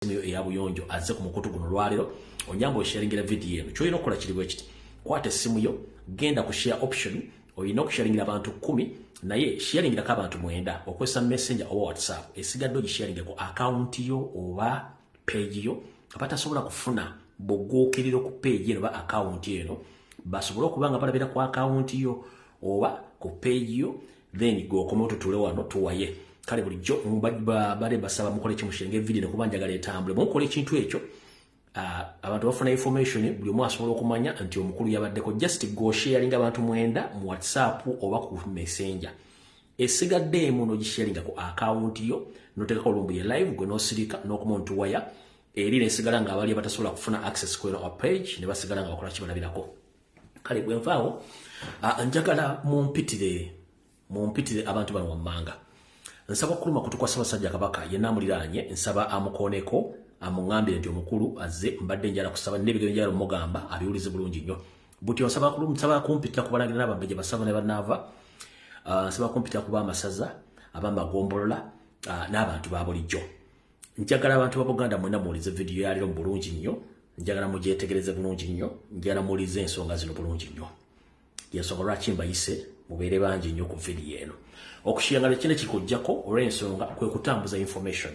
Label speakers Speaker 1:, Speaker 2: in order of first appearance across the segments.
Speaker 1: essimu yo eya buyonjo azze ku mukutu guno olwaleero onyamba osharingira vidiyo eno kyolina okukola kiri bwe kiti kwata essimu yo genda ku share option olina okusharingira abantu kumi naye sharingirako abantu mwenda okozesa messenger oba whatsapp esigadde ogisharinge ku akawunti yo oba peegi yo abatasobola kufuna buguukiriro ku peegi eno oba akawunti eno basobole okuba nga balabira ku akawunti yo oba ku peegi yo then gwe okome otutule wano tuwaye kale bulijjo bade basaba mukole kimushenge video nekuba njagala etambule mukola ekintu ekyo ah, abantu bafuna information buli omu asobola okumanya nti omukulu yabaddeko just go sharinga abantu mwenda mu whatsapp oba ku messenger esigadde emu nogisharinga ku akawunti yo notekako olumbu ye live gwe nosirika nokuma ntuwaya eri nesigala nga abali abatasobola kufuna access kweno page nebasigala nga bakola kibalabirako kale bwe nvaawo njagala mumpitire mumpitire abantu bano wammanga nsaba okuluma kutukwa ssabasajja kabaka yenna amuliraanye nsaba amukooneko amuŋambire nti omukulu azze mbadde njala kusaba nebigero njala omugamba abiwulize bulungi nnyo buti onsaba nsaba kumpitira ku balangira n'abambejja basaba ne banaava ah, nsaba kumpitira kuba amasaza abamagombolola ah, n'abantu ba bulijjo njagala abantu ba buganda mwena muwulize vidiyo yaliro mu bulungi nnyo njagala mugyetegereze bulungi nnyo njagala muwulize ensonga zino bulungi nnyo yensonga lwaki mbayise mubeere bangi nnyo ku vidiyo eno okushiyangala kino kikujjako olw'ensonga kwe kutambuza information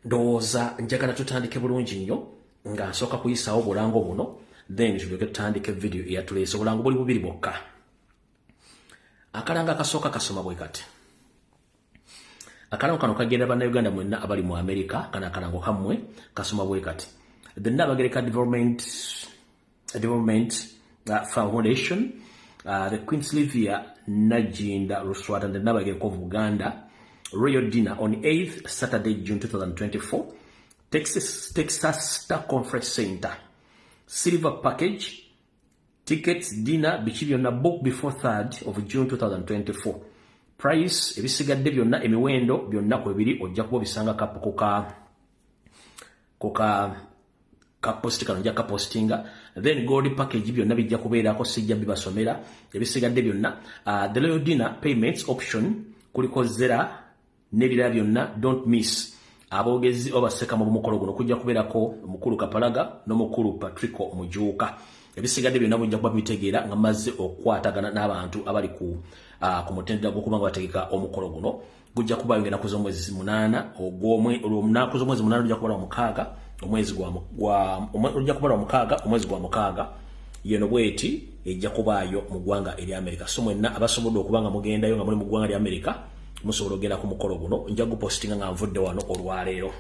Speaker 1: ndowooza njagala tutandike bulungi nnyo nga nsooka kuyisaawo obulango buno then tulyoke tutandike vidiyo eyatuleese obulango buli bubiri bwokka akalanga akasooka kasoma bwe kati akalango kano kagenda bannayuganda mwenna abali mu amerika kana akalango kammwe kasoma bwe kati the nabagereka development, development uh, foundation uh, the queen sylvia najinda luswata the nabagereka of buganda royal dinner on 8th saturday june 2024 texas, texas star conference center silver package tickets dinner biki byonna book before 3rd of june 2024 price ebisigadde byonna emiwendo byonna kwebiri ojja kuba obisanga kapu kuka kuka kaposti kano nja kapostinga then gold package byonna bijja kubeerako sijja bibasomera ebisigadde byonna uh, the loyal dinner payments option kuliko zera nebirala byonna don't miss aboogezi obaseka mu bumukolo guno kujja kubeerako mukulu kapalaga nomukulu patrico mujuuka ebisigadde byonna bujja kuba bitegeera nga mazze okukwatagana n'abantu abali ku uh, ku mutendera gw'okuba nga bategeka omukolo guno gujja kuba yongera kuza omwezi munaana ogwomnaku z'omwezi munaana ojja kubala omukaaga omwezi ojja kubala omukaaga omwezi gwa mukaaga yeno bweti ejja kubaayo mu ggwanga erya amerika so mwenna abasobodde okuba nga mugendayo nga muli mu ggwanga lya amerika musobola ogenda ku mukolo guno nja gupostinga nga nvudde wano olwaleero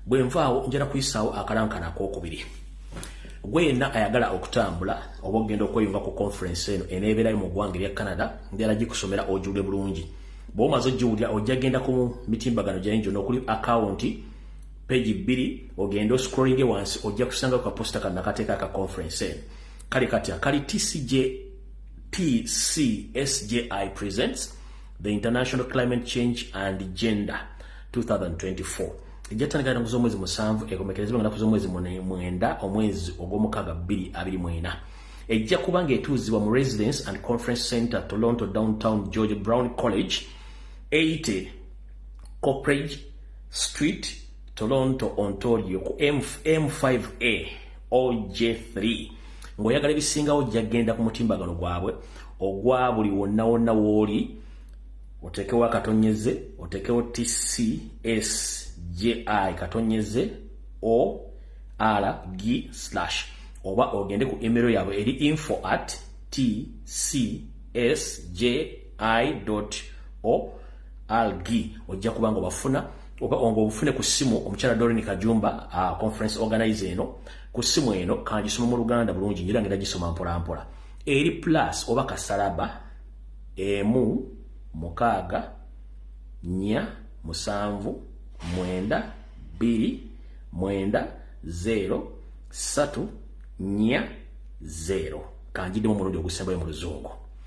Speaker 1: bwe nvaawo njala kuyisaawo akalankana akokubiri gwena ayagala okutambula oba ogenda okweyunga ku conference eno eneebeerayo mu ggwanga erya canada njala gikusomera ojule bulungi bwomaze ogiwulira ojja genda ku mitimbagano gyayo gyona okuli akawunti pegi bbiri ogende oscrollinge wansi ojja kusanga kaposita kanakateeka ka conference eno kale kati akali tcj PCSJI presents the International Climate Change and Gender 2024. ejjatandika era nguza omwezi musanvu ekomekerezebwa nga naku z'omwezi mwenda omwezi ogw'omukaaga bbiri abiri mwena ejja kuba ng'etuuzibwa mu residence and conference center toronto downtown george brown college 80 copridge street toronto ontario ku m5a OJ3 ng'oyagala ebisingawo ojja kugenda ku mutimbagano gwabwe ogwa buli wonna wonna wooli oteekewo akatonyeze oteekewo tcs gi katonyeze o r g slash oba ogende ku emero yaabwe eri info at tcs gi o algi ojja kuba nga obafuna oba onga obufune ku ssimu omukyala dorin kajumba uh, conference organize eno ku ssimu eno kangisoma mu luganda bulungi nyira ngera gisoma mpolampola eri plus oba kasalaba emu mukaaga nya musanvu mwenda bbiri mwenda zeero satu nya zeero kanjidemu omulundi ogusembayo mu luzungu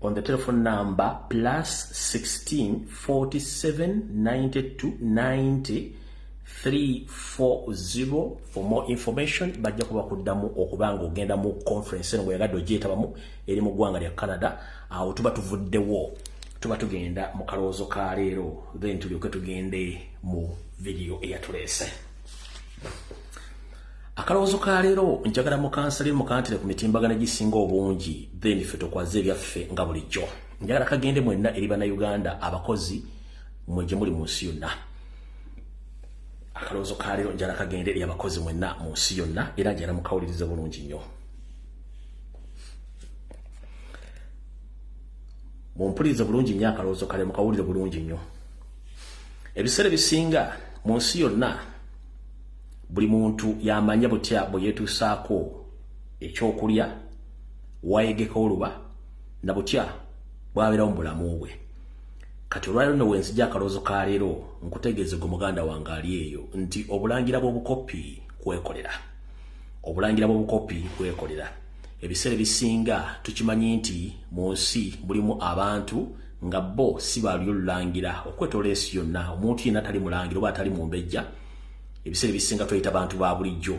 Speaker 1: on the telephone number plus 16 47 92 90 340 for more information bajja kuba kuddamu okuba nga ogenda mu conference eno bweyagadde ogyetabamu eri mu ggwanga lya canada awo tuba tuvuddewo tuba tugenda mu kalowoozo ka leero then tulyoke tugende mu vidiyo eyatuleese akalowoozo ka leero njagala mukansale mukantire ku mitimbagano egisinga obungi then ffe tukwaze ebyaffe nga bulijjo njagala kagende mwenna eri bannayuganda abakozi mwe gye muli mu nsi yonna akalowoozo ka leero njagala kagende eri abakozi mwenna mu nsi yonna era njagala mukawulirize bulungi nnyo mumpulirize bulungi nnyo akalowoozo kale mukawulire bulungi nnyo ebiseera ebisinga mu nsi yonna buli muntu yamanya butya bwe yeetuusaako ekyokulya wayegeka oluba na butya bwabeerawo mu bulamu bwe kati olwaliro no wenzija akaloozo ka leero nkutegeeze gwe muganda wange ali eyo nti obulangira bw'obukoppi kwekolera obulangira bw'obukoppi kwekolera ebiseera ebisinga tukimanyi nti mu nsi mulimu abantu nga bo si balyo lulangira okwetoola ensi yonna omuntu yenna tali mulangira oba atali mumbejja ebiseera ebisinga tweyita bantu ba bulijjo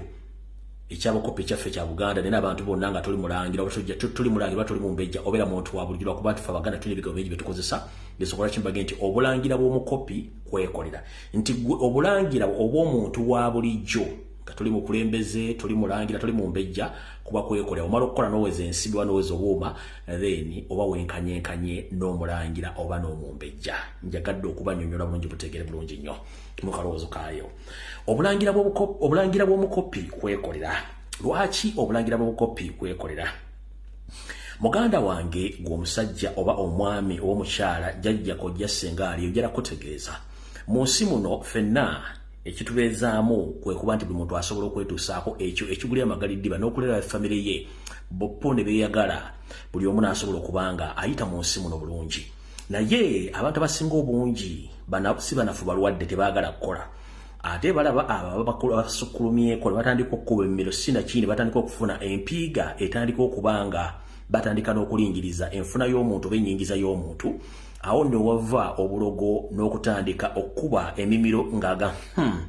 Speaker 1: ekyabakopa ekyaffe kya buganda naye nabantu bonna nga toli mulangira toli mulangira toli mumbejja obeera muntu wa bulijjo lwakuba tufe abaganda tulina ebigambo bingi byetukozesa byesobola kimbage nti obulangira bw'omukopi kwekolera nti obulangira obw'omuntu wa bulijjo nga tuli mukulembeze tuli mulangira tuli mumbejja kuba kwekolera omala okukola noweza ensibi oba noweza obuuma then oba wenkanyenkanye n'omulangira oba n'omumbejja njagadde okubanyonyola bulungi butegere bulungi nnyo mu kalowoozo kaayo obulangira bw'omukoppi kwekolera lwaki obulangira bw'obukoppi kwekolera muganda wange gwe omusajja oba omwami oba omukyala jajja kojja senga ali ojala kutegeeza mu nsi muno fenna ekitubeezaamu kwe kuba nti buli muntu asobola okwetuusaako ekyo ekiguli amagaliddiba n'okulera famire ye boppo ne beeyagala buli omu n'asobola okuba nga ayita mu nsi muno bulungi naye abantu abasinga obungi si banafu balwadde tebagala kukola ate balaba ababasukkulumyeko nebatandika okukuba emmiro sinaki nebatandika okufuna empiiga etandika okuba nga batandika n'okulingiriza enfuna y'omuntu oba enyingiza y'omuntu awo newava obulogo n'okutandika okukuba emimiro ngaaga hmm,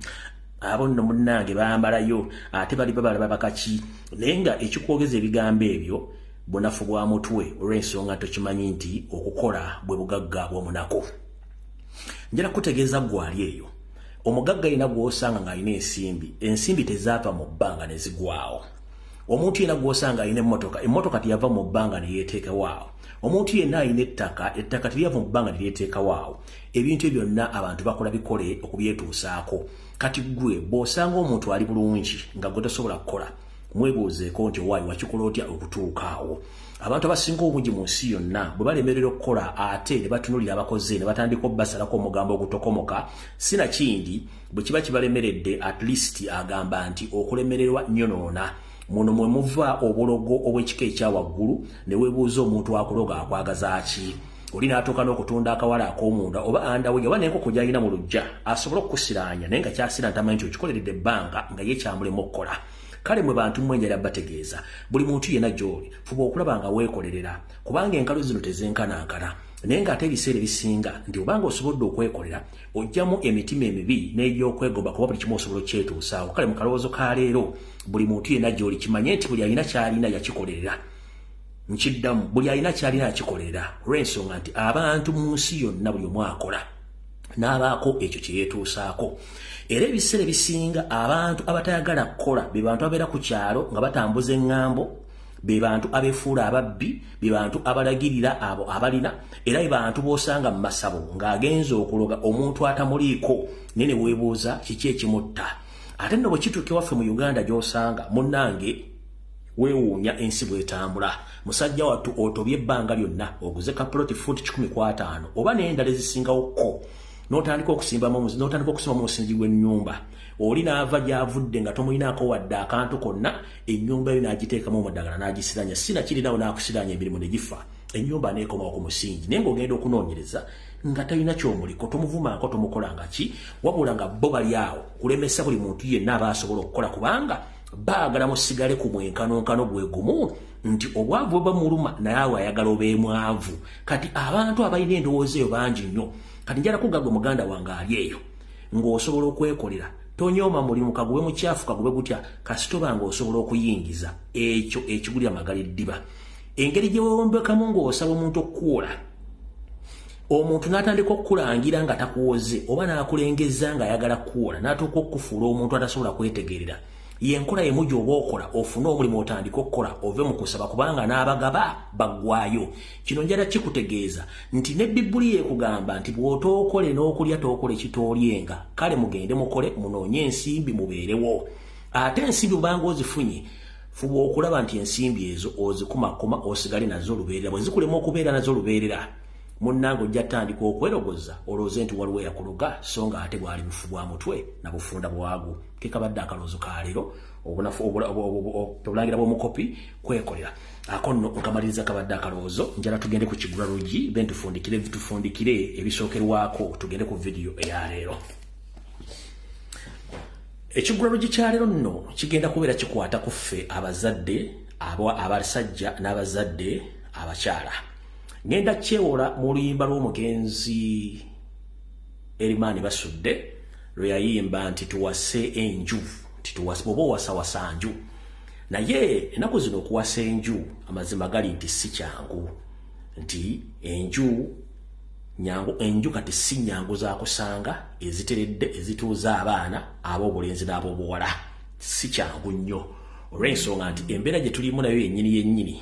Speaker 1: abo nno munnange bambalayo ate bali babalaba bakaki naye nga ekikwogeza ebigambo ebyo Bunafu bwa mutwe olw'ensonga tokimanyi nti okukola bwe bugagga bw'omunaku. Njala kutegeeza gwali eyo. Omugagga yina gw'osanga ng'alina ensimbi, ensimbi tezaava mu bbanga ne zigwawo. Omuntu yena gw'osanga alina emmotoka, emmotoka teyava mu bbanga ne yeeteekewaawo. Omuntu yena alina ettaka, ettaka teryava mu bbanga ne lyeteekawaawo. Ebintu ebyo byonna abantu bakola bikole okubyetuusaako. Kati ggwe bw'osanga omuntu ali bulungi nga gwe tosobola kukola, mwebuuzeeko nti owaayi wakikola otya okutuuka awo abantu abasinga obungi mu nsi yonna bwe balemerera okukola ate ne batunulira abakoze ne batandika obubasalako omugambo ogutokomoka sinakindi bwe kiba kibalemeredde at least agamba nti okulemererwa nyonoona muno mwe muva obulogo obw'ekika ekya waggulu ne webuuza omuntu akuloga akwagaza ki oli n'atuuka n'okutunda akawala ak'omunda oba andawe oba n'enkoko gy'alina mu lujja asobole okukusiraanya naye nga kyasira ntamanyi nti okikoleredde ebbanga nga ye kyamulemu okukola kale mwe bantu mmwe njala bategeeza buli muntu yenna gy'oli fuba okulaba nga weekolerera kubanga enkalo zino tezenkanankana naye ng'ate ebiseera ebisinga nti obanga osobodde okwekolera ojjamu emitima emibi n'egy'okwegoba kuba buli kimu osobola okukyetuusaawo kale mu kalowoozo ka leero buli muntu yenna gy'oli kimanye nti buli alina ky'alina yakikolerera nkiddamu buli alina kyalina akikolera olw'ensonga nti abantu mu nsi yonna buli omu akola n'abaako ekyo kye yeetuusaako era ebiseera ebisinga abantu abatayagala kukola be bantu abeera ku kyalo nga batambuza eŋŋambo be bantu abefuula ababbi be bantu abalagirira abo abalina era be bantu b'osanga mu masabo ng'agenza okuloga omuntu atamuliiko naye ne weebuuza kiki ekimutta ate nno bwe kituuka ewaffe mu uganda gy'osanga munnange wewuunya ensi bwetambula musajja wattu otobye ebbanga lyonna oguze kapuloti fuuti kikumi kwataano oba n'endala ezisingawo kko n'otandika okusimbamu n'otandika okusima mu musingi gw'ennyumba oli n'ava gy'avudde nga tomulinaako wadde akantu konna ennyumba yo n'agiteekamu omudagala n'agisiranya si nakirinawo n'akusiranya emirimu ne gifa ennyumba neekomawo ku musingi naye ng'ogenda okunoonyereza nga talina kyomuliko tomuvumaako tomukolanga ki wabula nga bo bali awo kulemesa buli muntu yenna aba asobola okukola kubanga baagala musigale ku mwenkanonkano gwe gumu nti obwavu bwe bamuluma naye awo ayagala obeemwavu kati abantu abalina endowooza eyo bangi nnyo kati njala kugagwe muganda wange ali eyo ng'osobola okwekolera tonyooma mulimu kagube mukyafu kagube gutya kasitoba ng'osobola okuyingiza ekyo ekigulira magala eddiba engeri gye wewombekamu ng'osaba omuntu okukuwola omuntu n'atandika okukulangira nga takuwoze oba n'akulengezza ng'ayagala kukuwola n'atuuka okukufuula omuntu atasobola kwetegerera yenkola emu gyoba okola ofune omulimu otandika okukola ove mu kusaba kubanga n'abagaba baggwayo kino njala kikutegeeza nti ne bibuli yekugamba nti bw'otookole n'okulya tookole kitoolyenga kale mugende mukole munoonye ensimbi mubeerewo ate ensimbi obanga ozifunye fuba okulaba nti ensimbi ezo ozikumakoma osigale nazo olubeerera bwe zikulema okubeera nazo olubeerera munnange ojja tandika okwerogoza olowooze nti waliwo yakuloga so nga ate bwali bufu bwa mutwe na bufunda bwagu kekabadde akaloozo ka leero obulangira bwomukopi kwekolera ako nno nkamaliriza kabadde akaloozo njala tugende ku kigula lugi then tufundikire tufundikire ebisookerwako tugende ku vidiyo eya leero ekigula lugi kya leero nno kigenda kubeera kikwata ku ffe abazadde abasajja n'abazadde abakyala ngenda kyewola mu oluyimba lw'omugenzi erimaani basudde lwe yayimba nti tuwase enju nti tuwase bwoba owasawasa nju naye enaku zino okuwasa enju amazima gali nti si kyangu nti enju nyangu enju kati si nyangu zakusanga eziteredde ezituuza abaana ab'obulenzi n'ab'obuwala si kyangu nnyo olw'ensonga nti embeera gye tulimu nayo yennyini yennyini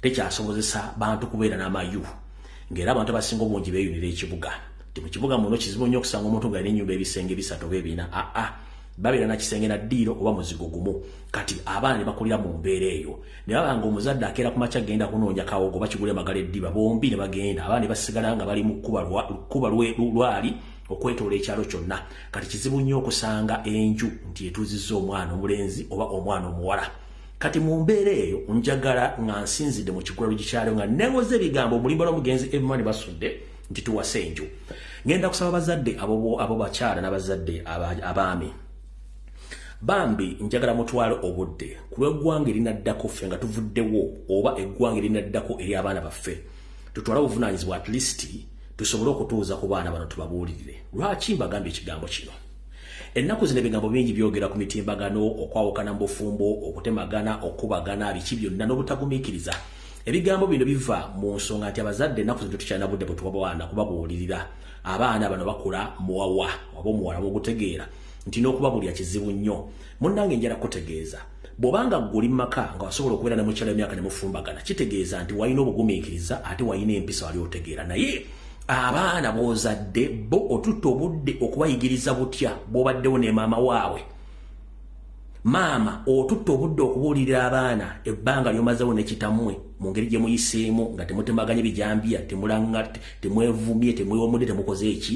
Speaker 1: tekyasobozesa bantu kubeera n'amayu ng'era abantu abasinga obungi beeyunira ekibuga ti mu kibuga muno kizibu nnyo okusanga omuntu nga alina ennyumba ebisenge bisatu oba ebiina aa ah, ah. babeera na kisenge na ddiiro oba muzigo gumu kati abaana ne bakulira mu mbeera eyo ne baba nga omuzadde akeera ku makya genda kunoonya kawogo bakigula emagala eddiba bombi ne bagenda abaana ne basigala nga bali mu kkuba lwali okwetoola ekyalo kyonna kati kizibu nnyo okusanga enju nti etuuzizza omwana omulenzi oba omwana omuwala kati mu mbeera eyo njagala nga nsinzidde mu kikula lugikyalo nga newoza ebigambo omulimba lwomugenzi ebimani basudde nti tuwase enju ngenda kusaba bazadde abo bakyala nabazadde abaami bambi njagala mutwale obudde kulweggwanga erinaddako ffe nga tuvuddewo oba eggwanga erinaddako eri abaana baffe tutwala obuvunanyizibwa at least tusobole okutuuza ku baana bano tubabuulirire lwaki mbagambye ekigambo kino Ennaku zino ebigambo bingi byogera ku mitimbagano, okwawukana mu bufumbo, okutemagana, okukubagana, biki byonna n'obutagumiikiriza. Ebigambo bino biva mu nsonga nti abazadde ennaku zino tetukyalina budde bwe tuwa baana kubabuulirira. Abaana bano bakula muwawa oba omuwala bw'ogutegeera nti n'okubabulira kizibu nnyo. Munnange njala kukutegeeza. Bwoba nga ggwe oli mu maka nga wasobola okubeera ne mukyala emyaka ne mufumbagana kitegeeza nti walina obugumiikiriza ate walina empisa wali otegeera naye abaana b'ozadde bo otutte obudde okubayigiriza butya bw'obaddewo ne maama waabwe maama otutte obudde okubuulirira abaana ebbanga ly'omazewo ne kitammwe mu ngeri gye muyiseemu nga temutemaganye bijambiya temulanga temwevumye temwewomudde temukoze eki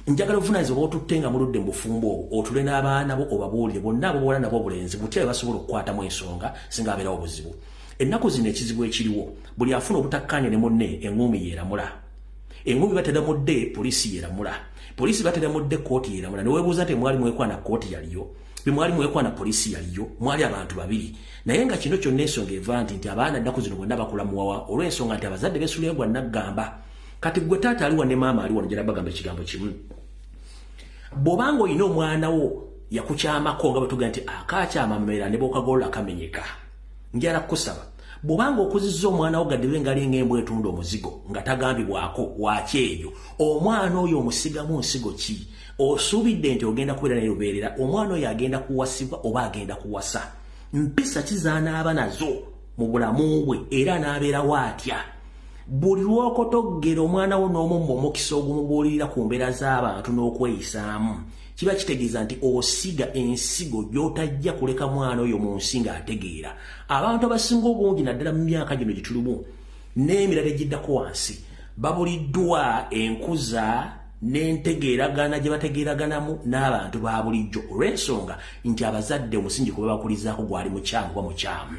Speaker 1: njagala obuvunaanyizibwa bwotutte nga muludde mu bufumbo obwo otule n'abaana bo obabuulire bonna abo bola nabo obulenzi butya bwe basobola okukwatamu ensonga singa abeerawo obuzibu ennaku zino ekizibu ekiriwo buli afuna obutakkaanya ne munne eŋŋuumi yeeramula eŋŋuumi batera mudde poliisi yeeramula poliisi batera mudde kkooti yeeramula ne weebuuza nti mwali mwekwana kkooti yaliyo bwe mwali mwekwana poliisi yaliyo mwali abantu babiri naye nga kino kyonna ensonga eva nti nti abaana ennaku zino bonna bakula muwawa olw'ensonga nti abazadde beesuleyo gwa nnaggamba kati gwe taata aliwa ne maama aliwa njala bagamba ekigambo kimu bwobanga olina omwana wo yakukyamako nga bwetuga nti akakyama mumera ne bwokagolola kamenyeka njala kukusaba bwobanga okuzizza omwana wo gadiwe ngalinga embwa etunda omuzigo nga tagambibwako wakyejo omwana oyo omusigamu nsigo ki osuubidde nti ogenda kubeera naye lubeerera omwana oyo agenda kuwasibwa oba agenda kuwasa mpisa ki zanaaba nazo mu bulamu bwe era n'abeerawo atya buli lw'okotoggera omwana wo n'omumma omukisa ogumubuulirira ku mbeera z'abantu n'okweyisaamu kiba kitegeeza nti osiga ensigo gy'otajja kuleka mwana oyo mu nsi ng'ategeera abantu abasinga obungi naddala mu myaka gino gye tulimu n'emirala egiddako wansi babuliddwa enkuza n'entegeeragaana gye bategeeraganamu n'abantu ba bulijjo olw'ensonga nti abazadde omusingi kwe babakulizaako gwali mukyamu oba mukyamu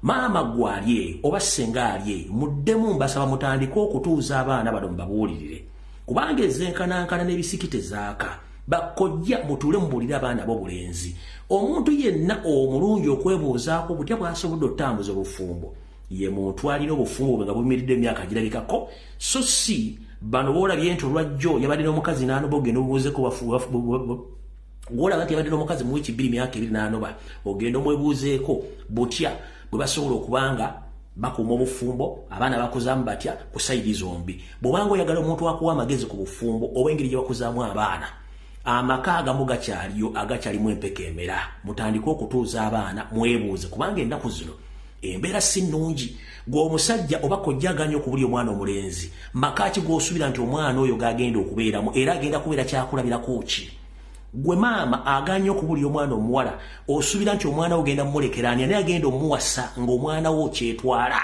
Speaker 1: maama gwali eyo oba ssenga ali eyo muddemu mbasaba mutandike okutuuza abaana bano mubabuulirire kubanga ezenkanankana n'ebisiki tezaaka bakojja mutuule mubuulire abaana b'obulenzi omuntu yenna omulungi okwebuuzaako butya bwasobodde okutambuza obufumbo ye muntu alina obufumu bwe nga buyimiridde emyaka girabikako so si bano boolabye nti olwajjo yabadde n'omukazi n'anoba ogenda obubuuzeko gwolaba nti yabadde n'omukazi mu wiiki bbiri myaka ebiri n'anoba ogenda omwebuuzeeko butya bwe basobola okuba nga bakuuma obufumbo abaana bakuzaamu batya ku sayidi zombi bw'obanga oyagala omuntu akuwa amagezi ku bufumbo oba engeri gye bakuzaamu abaana amaka agamu gakyaliyo agakyalimu empeka emera mutandike okutuuza abaana mwebuuze kubanga ennaku zino embeera si nnungi gwe omusajja oba kojjaganya okubuli omwana omulenzi maka ki gwosubira nti omwana oyo gagenda okubeeramu era agenda kubeera kyakulabirako ki gwe maama aganya okubulira omwana omuwala osubira nti omwana wo genda mumulekeraani ani agenda omuwasa ngaomwana wo kyetwala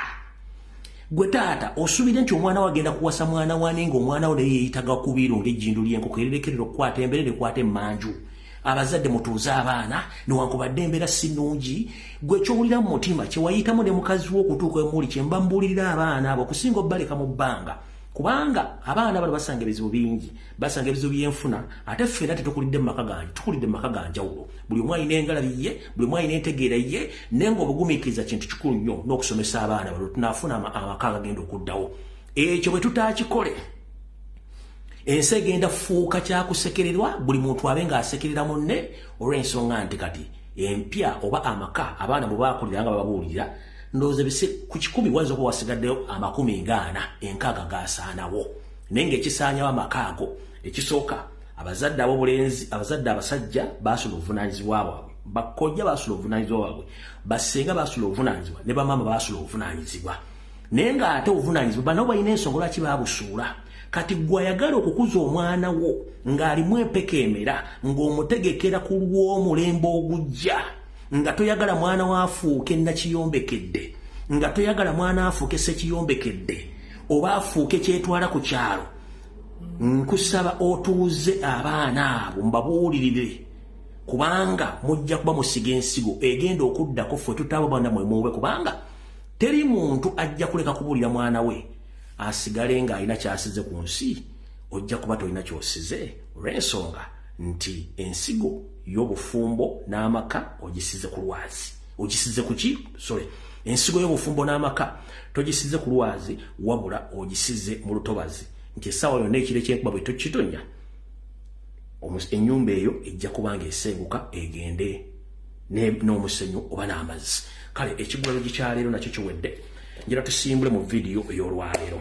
Speaker 1: gwe taata osubire nti omwana wo agenda kuwasa mwana wane ngaomwana wo naye yeyitaga kubiiru ngaejjindu lyenkoko ererekerera okukwata embere nekwata emanju abazadde mutuuze abaana newankubadde embeera si nnungi gwe kyowulira mu mutima kyewayitamu ne mukazi wo okutuuka emuli kyemba mbuulirira abaana abo okusinga obbaleka mu bbanga kubanga abaana bano basanga ebizibu bingi basanga ebizibu byenfuna ate ffe era tetukulidde mu maka gange tukulidde mu maka ga njawulo buli omu alina engalabi ye buli omu alina entegeera ye naye nga obugumiikiriza kintu kikulu nnyo n'okusomesa abaana bano tunaafuna amaka agagenda okuddawo ekyo bwe tutaakikole ensi egenda fuuka kyakusekererwa buli muntu abe nga asekerera munne olw'ensonga nti kati empya oba amaka abaana bwe bakulira nga bababuulira ndowooza bise ku kikumi wayinza okuba wasigaddeyo amakumi ngaana enkaaga gaasaanawo naye ng'ekisaanyawo amaka ago ekisooka abazadde abobulenzi abazadde abasajja baasula obuvunaanyizibwa bwabwe bakojja baasula obuvunaanyizibwa bwabwe basenga baasula obuvunaanyizibwa ne bamaama baasula obuvunaanyizibwa naye nga ate obuvunanyizibwa banabo balina ensonga lwaki babusuula kati gwe ayagala okukuza omwana wo ng'alimu empeka emera ng'omutegekera ku lw'omulembe ogujja nga toyagala mwana wo afuuke nakiyombekedde nga toyagala mwana afuuke sekiyombekedde oba afuuke kyetwala ku kyalo nkusaba otuuze abaana abo mbabuulirire kubanga mujja kuba musiga ensigo egenda okuddako ffe tutaabo bana mwe muube kubanga teri muntu ajja kuleka kubuulira mwana we asigale ng'alina kyasize ku nsi ojja kuba tolina kyosize olw'ensonga nti ensigo y'obufumbo n'amaka ogisize ku lwazi ogisize ku ki sorry ensigo y'obufumbo n'amaka togisize ku lwazi wabula ogisize mu lutobazi nti essaawa yonna ekiro ekyenkuba bwe tokitonya ennyumba eyo ejja kuba ng'esenguka egende n'omusenyu oba n'amazzi kale ekigwero gikyaleero nakyo kiwedde njira tusimbule mu vidiyo ey'olwaleero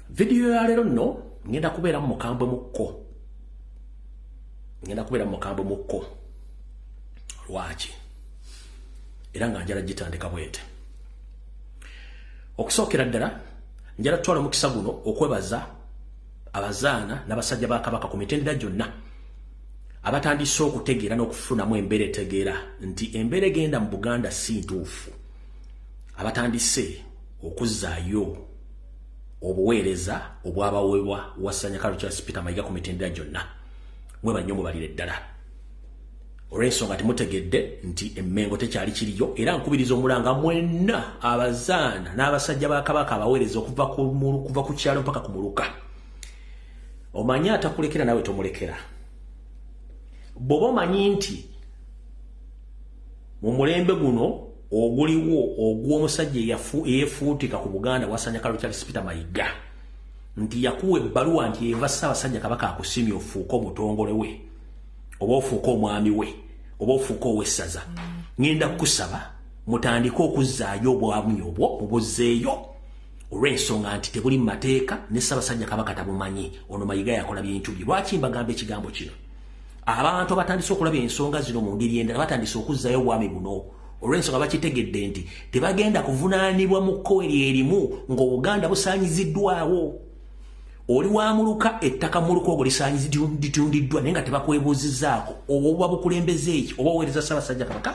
Speaker 1: vidiyo yaleero nno ngenda kubeeramu mukambwe mukko ngenda kubeeramu mukambwe mukko lwaki era nga njala gitandika bwete okusookera ddala njala tutwala omukisa guno okwebaza abazaana n'abasajja ba kabaka ku mitendera gyonna abatandise okutegeera n'okufunamu embeera etegeera nti embeera egenda mu buganda si ntuufu abatandise okuzzaayo obuweereza obwabaweebwa wasanya kalo charles peter mayiga ku mitendera gyonna mwebanyo mubalire ddala olw'ensonga temutegedde nti emmengo tekyali kiriyo era nkubiriza omulanga mwenna abazaana n'abasajja ba kabaka abaweereza okuva kuva ku kyalo mpaka ku muluka omanyi atakulekera nawe tomulekera bwoba omanyi nti mu mulembe guno oguliwo ogw'omusajja eyefuutika ku buganda wasanya kalo kyali sipita mayiga nti yakuwa ebbaluwa nti eva ssaabasajja kabaka akusimye ofuuke omutongole we oba ofuuka omwami we oba ofuuka owessaza ŋenda kukusaba mutandike okuzzaayo obwamu obwo mubuzzeeyo olw'ensonga nti tebuli mu mateeka ne ssabasajja kabaka tabumanyi ono mayiga yakola bintu bye lwaki mbagamba ekigambo kino abantu abatandise okulaba ensonga zino mu ngeri endala batandise okuzzaayo obwami buno olw'ensonga bakitegedde nti tebagenda kuvunaanibwa mu kkowe lyerimu ng'obuganda busaanyiziddwawo oli wa muluka ettaka muluka ogwo lisanyizitundiddwa naye nga tebakwebuuzizaako oba obuba bukulembeza eki oba oweereza ssabasajja kabaka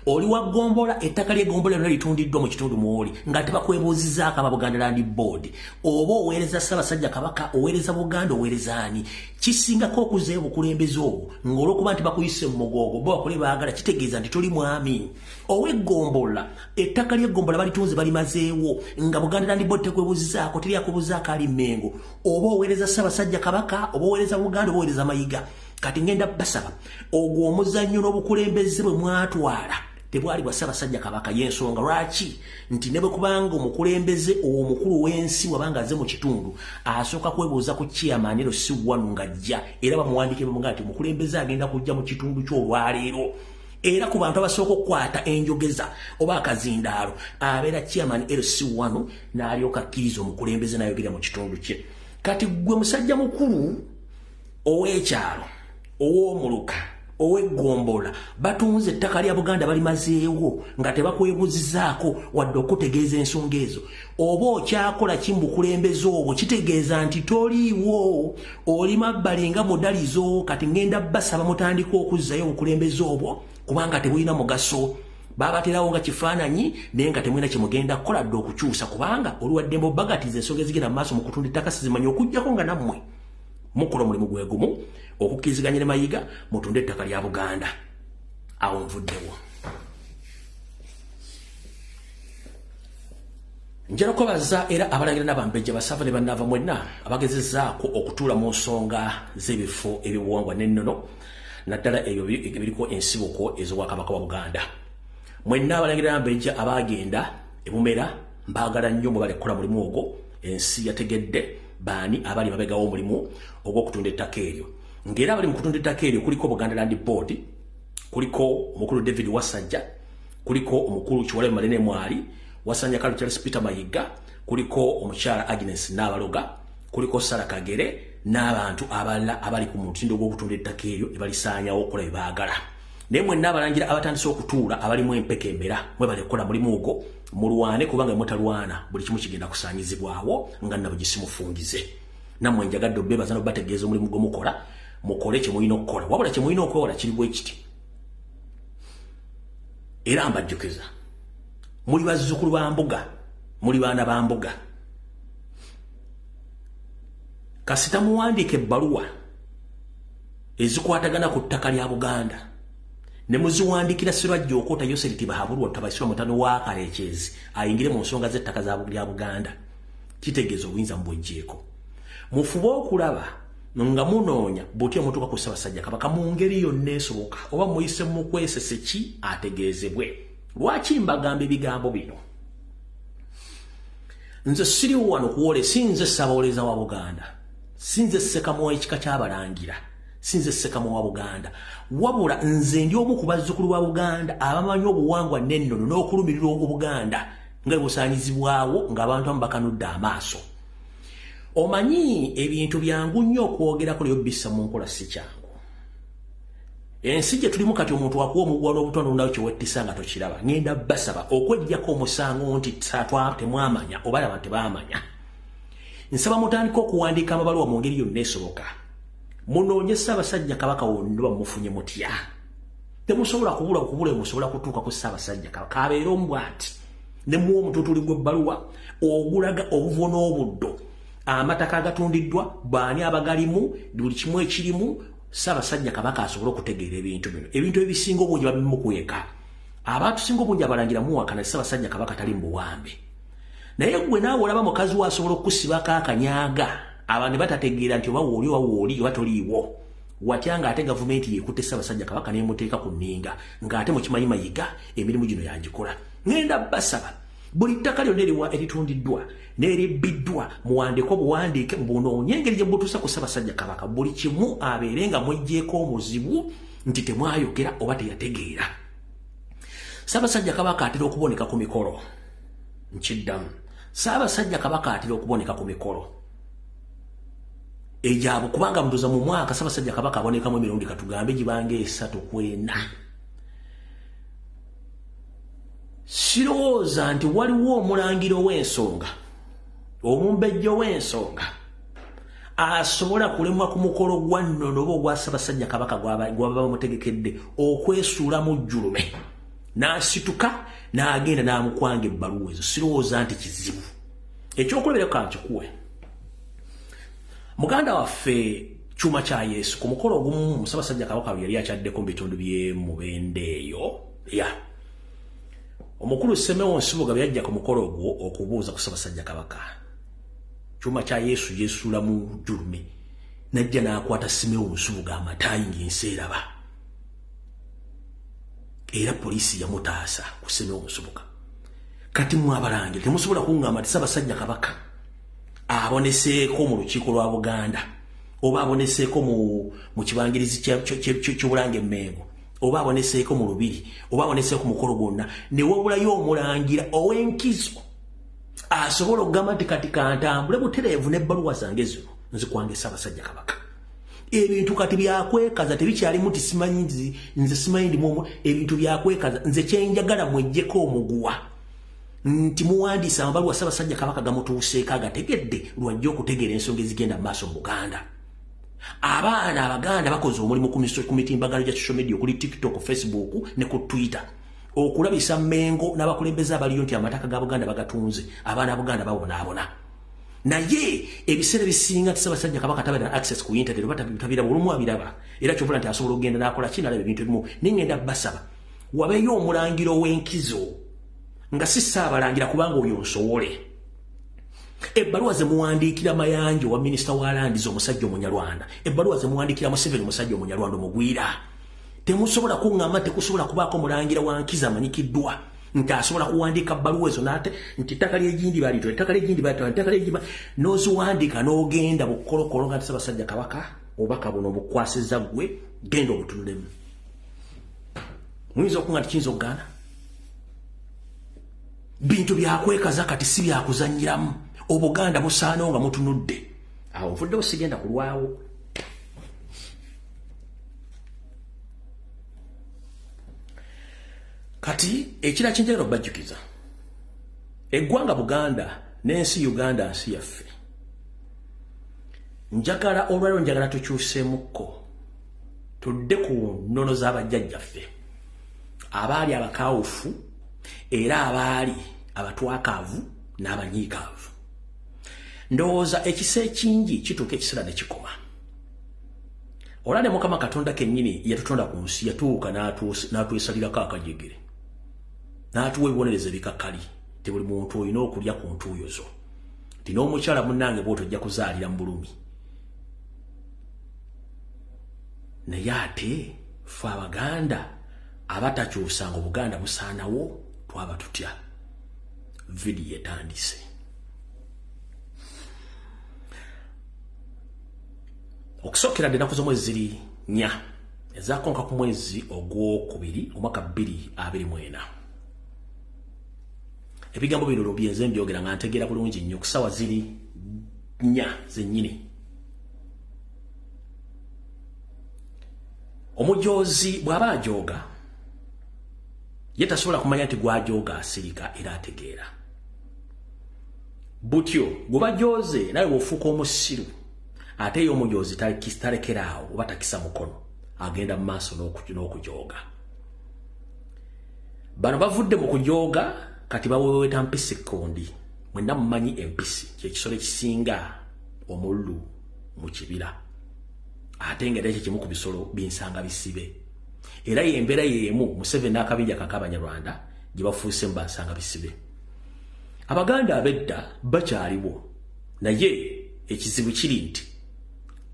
Speaker 1: oli wa ggombola ettaka ly'egombola lyona litundiddwa mu kitundu mwoli nga tebakwebuuzizaako aba buganda landi board oba oweereza ssabasajja kabaka oweereza buganda oweereza ani kisingako okuzeeyo bukulembeza obwo ng'olwokuba nti bakuyise mu mugoogo bo bakole baagala kitegeeza nti toli mwami oweggombolola ettaka lyeggombolola balitunze balimazeewo nga buganda landi bodi tekwebuzizaako teryakubuzaako ali mengo oba oweereza ssabasajja kabaka oba oweereza buganda oba oweereza mayiga kati ngenda basaba ogwo omuzannyo n'obukulembeze bwe mwatwala tebwali bwa ssabasajja kabaka y'ensonga lwaki nti ne bwe kubanga omukulembeze owo omukulu w'ensi wabanga aze mu kitundu asooka kwebuuza ku kiyamanero si wanu ng'ajja era bamuwandiike bamugamba nti omukulembeze agenda kujja mu kitundu ky'olwaleero era ku bantu abasooka okukwata enjogeza oba akazindaalo abeera chairman lc wano n'alyoka akkiriza omukulembeze n'ayogera mu kitundu kye kati gwe musajja mukulu ow'ekyalo ow'omuluka ow'eggombolola batunze ettaka lya buganda balimazeewo nga tebakwebuzizaako wadde okutegeeza ensonga ezo oba okyakola ki mubukulembeze obwo kitegeeza nti toliiwo oli mabbali nga mudalizo kati ngenda basaba mutandika okuzzayo obukulembeze obwo kubanga tebulina mugaso babaterawo nga kifaananyi naye nga temulina kyemugenda kukola dde okukyusa kubanga oluwaddembe obagatiza ensonga ezigenda mu maaso mu kutunda ettaka sizimanyi okugyako nga nammwe mukola omulimu gwe gumu okukkiriziganya ne mayiga mutunde ettaka lya buganda awo nvuddewo njala kubaza era abalangira n'abambejja basava ne bannaava mwenna abagezezaako okutuula mu nsonga z'ebifo eby'obuwangwa n'ennono naddala ebyo ebiriko ensibuko ez'obwakabaka wa buganda mwenna abalangira n'abambejja abaagenda ebumera mbaagala nnyo mwe balekkola mulimu ogwo ensi yategedde baani abali babegawo omulimu ogw'okutunda ettaka eryo ng'era abali mu kutunda ettaka eryo kuliko buganda land board kuliko omukulu david wasajja kuliko omukulu kiwale manene mwali wasanya kalu charles peter mayiga kuliko omukyala agnes nabaloga kuliko sara kagere n'abantu abalala abali ku mutindo gw'okutunda ettaka eryo ne balisaanyawo okukola bye baagala naye mwenna abalangira abatandise okutuula abalimu empeke emera mwe balikola mulimu ogwo mulwane kubanga mutalwana buli kimu kigenda kusaanyizibwawo nga nabo gisimufungize nammwe njagadde obebaza nobategeeza omulimu gwe mukola mukole kye mulina okukola wabula kye mulina okwewola kiri bwe kiti era mbajjukiza muli bazzukulu ba mbuga muli baana ba mbuga kasita muwandiika ebbaluwa ezikwatagana ku ttaka lya buganda ne muziwandikira sirwajja okwota yoseri tibahabulwa tabasirwa mutano wa kalekyezi ayingire mu nsonga z'ettaka lya buganda kitegeeza obuyinza mubwejjeeko mufube okulaba nga munoonya butya mutuuka ku ssabasajja kabaka mu ngeri yonna esoboka oba muyise mu kwesese ki ategeezebwe lwaki mbagamba ebigambo bino nze siri wano kuwole si nze ssabawoleza wa buganda si nze ssekamu ekika ky'abalangira si nze ssekamu wa buganda wabula nze ndi omu ku bazzukulu ba buganda abamanyi obuwangwa n'ennono n'okulumirirwa obuganda nga busaanyizibwawo ng'abantu amu bakanudde amaaso omanyi ebintu byangu nnyo okwogerako lyo bissa mu nkola si kyangu ensi gye tulimu kati omuntu wakuwa omuguwa n'obutonde olundawo kyewettisa nga tokiraba ngenda basaba okwejjako omusango nti satwa temwamanya oba laba tebamanya nsaba mutandika okuwandiika amabaluwa mu ngeri yonna esoboka munoonye ssaabasajja kabaka wonna bamufunye mutya temusobola kubula okubula emusobola kutuuka ku ssaabasajja kabaka abeera omu bwati ne muwa omututuli gw'ebbaluwa ogulaga obuvo n'obuddo amataka agatundiddwa baani abagalimu buli kimu ekirimu ssaabasajja kabaka asobole okutegeera ebintu bino ebintu ebisinga obungi babimukweka abaatusinga obungi abalangira muwakana ssaabasajja kabaka tali mu buwambe naye gwe naawe olaba mukazi we asobola okusibako akanyaga abantu batategeera nti oba wooli oba wooli oba toliiwo watya nga ate gavumenti yekutte ssabasajja kabaka nemuteeka ku nninga nga ate mukimanyi mayiga emirimu gino yagikola ngenda basaba buli ttaka lyonna eriwa eritundiddwa neribbiddwa muwandeko buwandiike mubunoonye engeri gye butuusa ku ssabasajja kabaka buli kimu abeere nga mwejjeeko omuzibu nti temwayogera oba teyategeera ssabasajja kabaka atera okuboneka ku mikolo nkiddamu ssabasajja kabaka atera okuboneka ku mikolo egyabo kubanga mbuza mu mwaka sabasajja kabaka abonekamu emirundi katugambe gibanga esatu kwena sirowooza nti waliwo omulangira ow'ensonga omumbejja ow'ensonga asobola kulemwa ku mukolo gwa nno noba ogwa sabasajja kabaka gwababa bamutegekedde okwesuula mu jjulume n'asituka n'agenda n'amukwanga ebbaluwa ezo sirowooza nti kizibu ekyokulabira kankikuwe muganda waffe kyuma kya yesu ku mukolo ogumu musabasajja kabaka we yali akyaddeko mu bitundu byemubende eyo ya omukulu semewo nsibuga byajja ku mukolo ogwo okubuuza ku sabasajja kabaka kyuma kya yesu yesuulamu julume najja n'akwata semewo nsibuga amataayi ng'ensi eraba era poliisi yamutaasa ku semewo nsibuga kati mwe abalangira temusobola kungamba nti sabasajja kabaka aboneseeko mu lukiiko lwa buganda oba aboneseeko mu kibangirizi kyobulanga emengo oba aboneseeko mu lubiri oba aboneseeko mukolo gwonna newabulayo omulangira owenkizo asobola okugamba nti kati kantambule butereevu nebbaluwa zange zino nzikwangesa abasajja kabaka ebintu kati byakwekaza tebikyalimu ti simanyi nze simanyi ndi mwomu ebintu byakwekaza nze kyenjagala mwejjeko omuguwa nti muwandiisa amabaluwa ssabasajja kabaka gamutuuseeko agategedde lwajja okutegeera ensonga ezigenda mu maaso mu buganda abaana abaganda bakoze omulimu ku mitimbagano gya social media okuli tiktok facebook ne ku twitter okulabisa mengo n'abakulembeze abaliyo nti amataka ga buganda bagatunze abaana buganda babonaabona naye ebiseera ebisinga tisabasajja kabaka tabera access ku internet oba tabiraba olumu abiraba era kyovula nti asobola okugenda nakola ki nalaba ebintu ebimu naye ngenda basaba wabeyo omulangira ow'enkizo nga si saabalangira kubanga oyo nsowole ebbaluwa ze muwandiikira mayanja owa minisita wa landiza omusajja omunyarwanda ebbaluwa ze muwandiikira museveni omusajja omunyarwanda omugwira temusobola kuŋŋamba tekusobola kubaako mulangira wa nkizo amanyikiddwa nti asobola kuwandiika bbaluwa ezo nate nti ettaka lyegindi balitwa ettaka lyegindi balitwa ettaka lyegindi n'oziwandiika n'ogenda bukolokolo nga tisabasajja kabaka obubaka buno obukwasiza ggwe genda obutunulemu muyinza okuga nti kiyinza okugaana bintu byakwekaza kati si byakuzanyiramu obuganda busaanawo nga mutunudde awo nfuddewo sigenda kulwawo kati ekira kyenjagala obajjukiza eggwanga buganda n'ensi uganda nsi yaffe njagala olwaliro njagala tukyusemukko tudde ku nnono z'abajjajjaffe abaali abakawufu era abaali abatwakaavu n'abanyiikaavu ndowooza ekisa ekingi kituuka ekiseera ne kikoma olale mukama katonda kenyini yatutonda ku nsi yatuuka n'atwesalirako akajegere n'atuwa ebibonereza ebikakali ti buli muntu olina okulya ku ntuuyo zo ti n'omukyala munange bwoti ojja kuzaalira mu bulumi naye ate fe abaganda abatakyusanga obuganda busaanawo twaba tutya vidiyo etandise okusookera ddenaku z'omwezi ziri nya ezakonka ku mwezi ogwokubiri omwaka bbiri abiri mwena ebigambo bino lobyenze mbyogera nga ntegeera bulungi nnyo kusawa ziri nya zennyini omujoozi bw'aba ajooga ye tasobola kumanya nti gwajooga asirika era ategeera butyo gwe bajooze nawe bwofuuka omusiru ate eyo omujoozi talekerawo oba takisa mukono agenda mu maaso n'okujooga bano bavudde mu kujooga kati baweweta mpisi kondi mwena mumanyi empisi kyekisolo ekisinga omululu mu kibira ate nga era ekyo kimu ku bisolo binsanga bisibe era yembeera yemu museveni n'akabinja kaka abanyarwanda gye bafuuse mu bansanga bisibe abaganda abedda bakyaliwo naye ekizibu kiri nti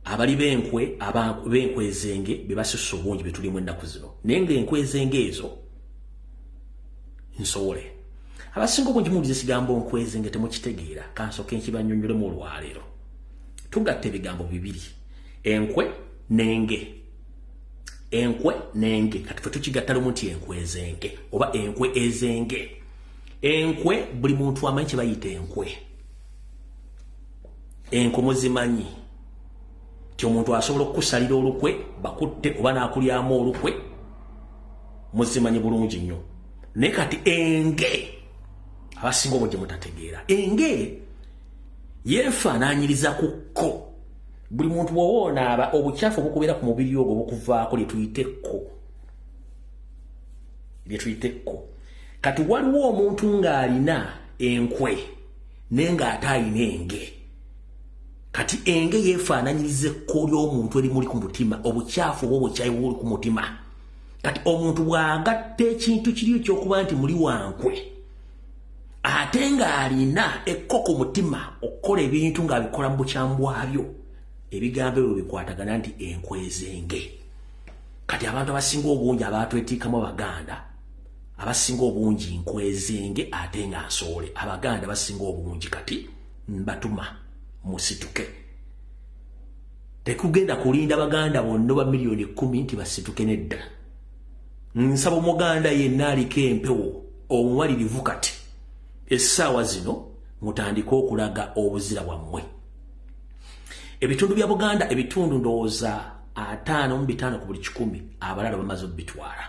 Speaker 1: abali benkwe benkwe ezenge bebasusa obungi betulimu ennaku zino naye nga enkwe ezenge ezo nsowole abasinga obungi muwuliza ekigambo nkwe ezenge temukitegeera kansoke nkibanyonyolemu olwaleero tugatta ebigambo bibiri enkwe nenge enkwe nenge kati fe tukigatta lumu nti enkwe ezenge oba enkwe ezenge enkwe buli muntu amanyi kye bayita enkwe enkomo zimanyi ti omuntu asobola okukusalira olukwe bakutte oba nakulyamu olukwe muzimanyi bulungi nnyo naye kati enge abasinga obwo gye mutategeera enge yefaananyiriza ku kko buli muntu wowoona aba obukyafu obukubeera ku mubiri ogwo bukuvaako lyetuyite kko lyetuyite kko kati waliwo omuntu ng'alina enkwe naye ng'ate alina enge kati enge yeefaananyiriza ekko ly'omuntu erimuli ku mutima obukyafu oba obukyayi buli ku mutima kati omuntu bw'agatta ekintu kiri ekyokuba nti muli wankwe ate ng'alina ekko ku mutima okukola ebintu ng'abikola mu bukyamu bwabyo ebigambo ebyo bikwatagana nti enkwezenge kati abantu abasinga obungi abaatwetiikamu abaganda abasinga obungi nkwezenge ate nga nsoole abaganda basinga obungi kati mbatuma musituke tekugenda kulinda baganda bonna oba miliyoni kumi nti basituke nedda nsaba omuganda yenna aliko empewo omumalirivu kati essaawa zino mutandike okulaga obuzira bwammwe ebitundu bya buganda ebitundu ndowooza ataano mu bitaano ku buli kikumi abalala bamaze obitwala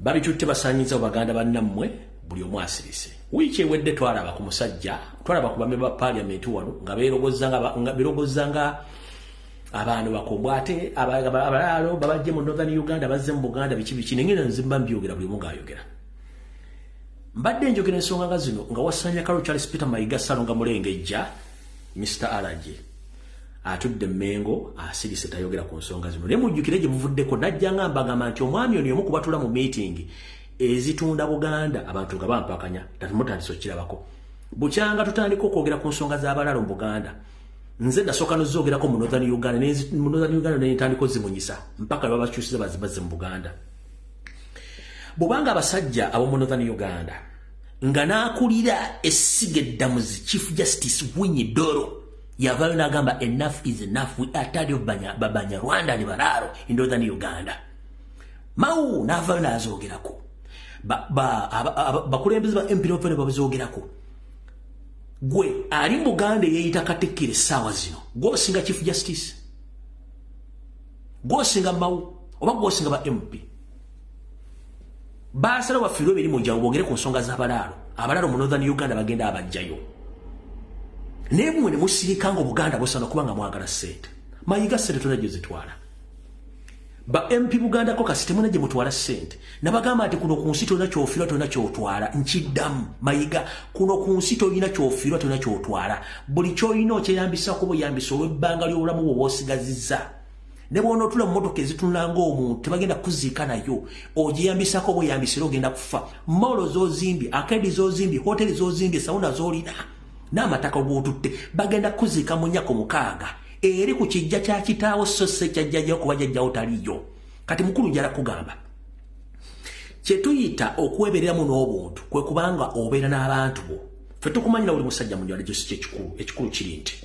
Speaker 1: babitutte basanyiza mu baganda bannammwe buli omu asirise wiiki ewedde twalaba ku musajja twalaba ku bamemba ba paliamenti wano nga berogozza nga abantu bakombwa ate abalaalo babajje mu northern uganda bazze mu buganda biki biki nengenda nzimba mbyogera buli omu ngaayogera mbadde njogera ensonga nga zino nga wasanya kalo charles peter mayiga salonga mulengejja mr alage atudde Mengo asirise tayogera ku nsonga zino naye mujjukire gye buvuddeko najja nga mbagamba nti omwami ono y'omu kubatula mu miitingi ezitunda Buganda abantu nga bampakanya tatumutandisa okukirabako bukyanga tutandika okwogera ku nsonga z'abalaalo mu Buganda nze nasooka nozoogerako mu northern Uganda mu northern Uganda naye ntandika ozimunyisa mpaka lwebabakyusiza bazibaze mu Buganda bwobanga abasajja ab'omu northern Uganda nga n'akulira essiga eddamuzi chief justice Winyi Doro yavayo nagamba enough is enough we are tired of banya babanya Rwanda ni bararo in northern Uganda mau navayo nazogerako ba ba bakulembeze ba MP Rwanda bazogerako gwe ali muganda yeyita katikire sawa zino gwo singa chief justice gwo singa mau oba gwo singa ba MP baasala bafiirwa emirimu gyawe bogere ku nsonga z'abalaalo abalaalo mu northern uganda bagenda abajjayo naye mwe ne musirika nga obuganda busana kuba nga mwagala sente mayiga sente tona gye zitwala ba mp bugandako kasi temuna gye mutwala sente nabagamba nti kuno ku nsi tolina kyofirwa tolina kyotwala nkiddamu mayiga kuno ku nsi tolina kyofirwa tolina kyotwala buli kyolina okyeyambisa kuba oyambisa olw'ebbanga ly'obulamu bwe bwosigazizza ne bw'onootula mu mmotoka ezitunula ng'omuntu tebagenda kukuziika nayo ogiyambisako oba oyambisira ogenda kufa moolo z'ozimbye akeedi z'ozimbye hoteri z'ozimbye sawuna z'olina n'amataka og'otutte bagenda kukuziika mu nnyako mukaaga eri ku kijja kya kitaawo so si ekyajjajja okuba jajjawo taliyo kati mukulu njala kugamba kye tuyita okwebereramu n'obuntu kwe kubanga obeera n'abantu bo ffe tukumanyira buli musajja mu njala gyosi kyekikulu ekikulu kiri nti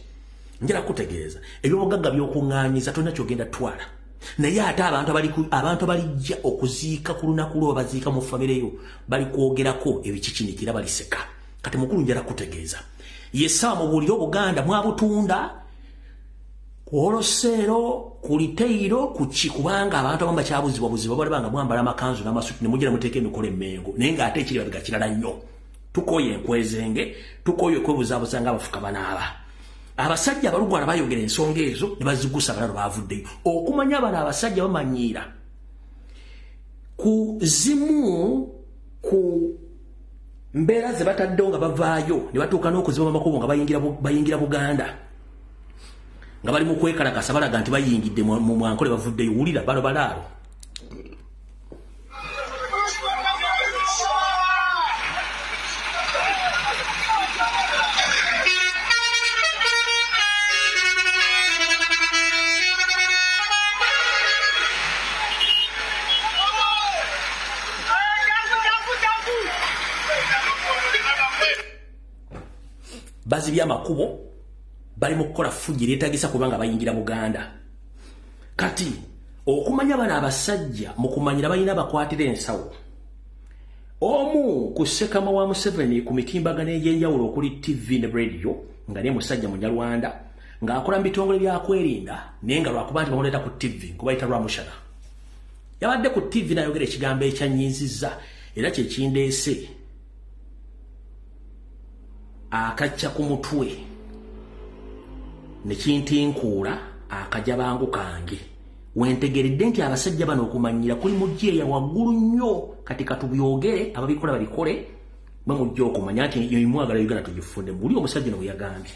Speaker 1: njala kutegeeza ebyobugagga byokuŋŋaanyiza tolina kyogenda twala naye ate abantu abantu abalijja okuziika ku lunaku lwo babaziika mu famire yo bali kwogerako ebikikinikira baliseka kati mukulu njala kutegeeza yesawa mubuulire obuganda mwabutunda kwoloseero ku liteyiro kuki kubanga abantu abamu bakyabuzibwa buzibwa balibanga mwambala amakanzu n'amasuti ne mujja ne muteeka emikola emmengo naye ng'ate ekiri babigakirala nnyo tukoye enkwezenge tukoye okwebuzabuza nga abafuka banaaba abasajja abalugwala bayogera ensonga ezo ne bazigusa balalo bavuddeyo okumanya abano abasajja bamanyiira ku zimu ku mbeera ze bataddewo nga bavaayo ne batuuka n'okuziba amakubo nga bayingira buganda nga bali mu kwekalakasa balaga nti bayingidde mu mwanko ne bavuddeyo wulira bano balaalo bazibye amakubo bali mu kukola fujji lyetagisa kubanga bayingira buganda kati okumanya bano abasajja mu kumanyira balina bakwatira ensawo omu ku sekama wa museveni ku mitimbagano egy'enjawulo okuli tv ne radio nga ne musajja munyarwanda ng'akola mu bitongole byakwerinda naye nga lwakuba nti bamuleeta ku tv nkubayita lwamushana yabadde ku tv nayogera ekigambo ekyanyiizizza era kyekindeese akacca ku mutwe ne kintinkuula akajabangu kange wentegeredde nti abasajja bano okumanyira kuli mujjeeya waggulu nnyo kati katubyogere ababikola babikole mwe mujja okumanya nti yoimwagala uganda tugifunde muli omusajja no bweyagambye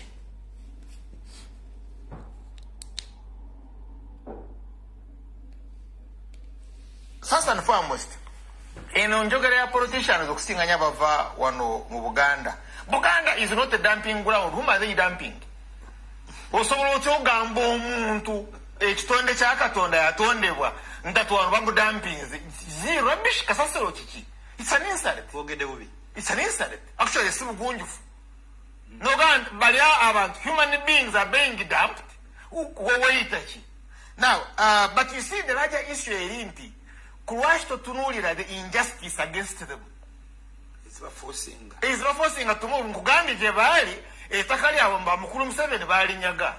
Speaker 2: first and foremost eno njogera ya politicians okusinganya bava wano mu buganda buganda is not a dumping ground whom are they dumping osobola otya ogamba omuntu ekitonde kya katonda yatondebwa ntatu wano bamudampinze zi rubbish kasasiro kiki it's an insult wogede bubi it's an insult actually si bugunjufu nogamba bali abantu human beings are being dumped weweyita ki now uh, but you see the larger issue eri nti kulwaki totunuulira the injustice against them ezibafosinga tumu nkugambye gye baali ettaka lyabwe mba mukulu museveni baalinyaga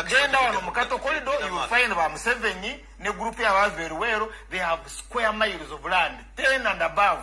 Speaker 2: genda wano mukato kolido youfind ba museveni ne gurupu yabaava eruweero they have square miles of land ten and above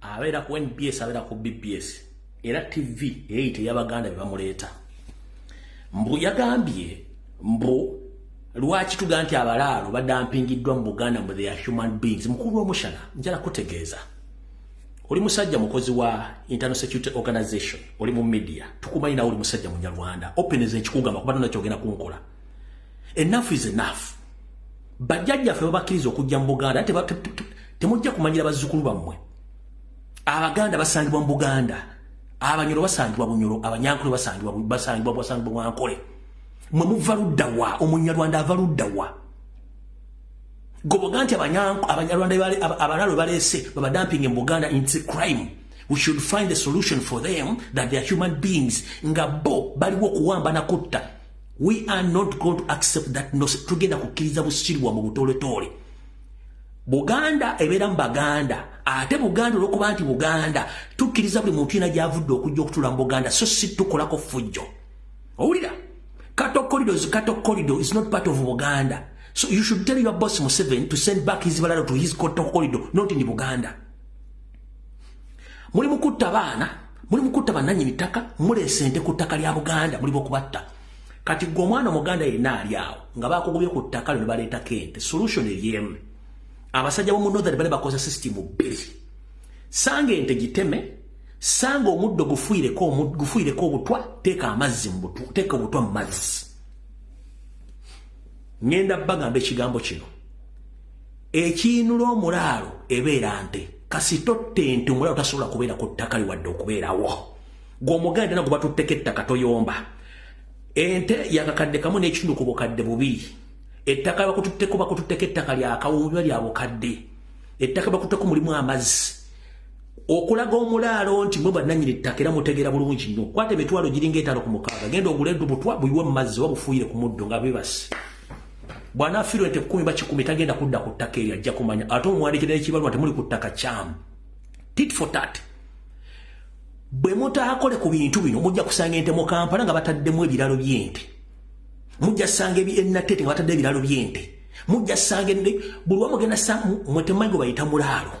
Speaker 1: abeera ku nbs abeera ku bbs era tv eyeyita eyabaganda bebamuleeta mbu yagambye mbu lwaki tuga nti abalaalo badampingiddwa mu buganda mbu theya human beings mukulu omushana njala kutegeeza oli musajja mukozi wa internal security organization oli mu media tukumanyi nawe oli musajja munyarwanda openeza ekikugamba kuba tona kyogenda kunkola enough is enough bajjajja ffe babakkiriza okujja mu buganda temujja kumanyira bazzukulu bammwe abaganda basangibwa mu buganda abanyolo basangibwa bunyolo abanyankole basangibwa basangibwa basangibwa bwankole mwe muva ludda wa omunyarwanda ava ludda wa goboga nti abanyarwanda abalalo baleese babadampinge mu buganda ins crime we should find a solution for them that they're human beings nga bo baliwo okuwamba nakutta we are not going to accept that no tugenda kukkiriza busirwa mu butoletoole buganda ebeera mu baganda ate buganda olwokuba nti buganda tukkiriza buli muntu yina gyavudde okujja okutula mu buganda so si tukolako fujjo owulira katokolido katokolido is not part of buganda so you should tell your boss museven to send back his balado to his katokolido not in buganda muli mukutta baana muli mukutta bananyini ttaka muleese nte ku ttaka lya buganda muli bokubatta kati gwe omwana omuganda yenna ali awo nga bakugubye ku ttaka lyo nebaleetako ente solution eryemu abasajja bomu northern bale bakoza system bbiri sanga ente giteme sanga omuddo gufuireko gufuireko obutwa teeka amazzi mubutwa teeka obutwa mu mazzi ngenda bagamba ekigambo kino ekiinula omulaalo ebeera nte kasita otta ente omulaalo tasobola kubeera ku ttaka li wadde okubeerawo gw'omuganda era gwe batutteko ettaka toyomba ente yakakadde kamu n'ekitundu ku bukadde bubiri ettaka bakututteko bakututteko ettaka lyakawuubiba lya bukadde ettaka bakutteko mulimu amazzi okulaga omulaalo nti mwe bannanyini ettaka era mutegeera bulungi nnyo kwata emitwalo giringa etaano ku mukaaga genda ogule edu butwa buyiwe mu mazzi oba bufuuyire ku muddo nga bibasi bwanafiirwa ente kumi bakikumi tagenda kudda ku ttaka eryo ajja kumanya ate omwandikira ekibalwa temuli ku ttaka kyamu tit for tat bwe mutaakole ku bintu bino mujja kusanga ente mu kampala nga bataddemu ebiralo by'ente mujja sanga enatete nga batadde ebiralo by'ente mujja sanga ende buli wa mugenda sa mwe temanyi gwe bayita mulaalo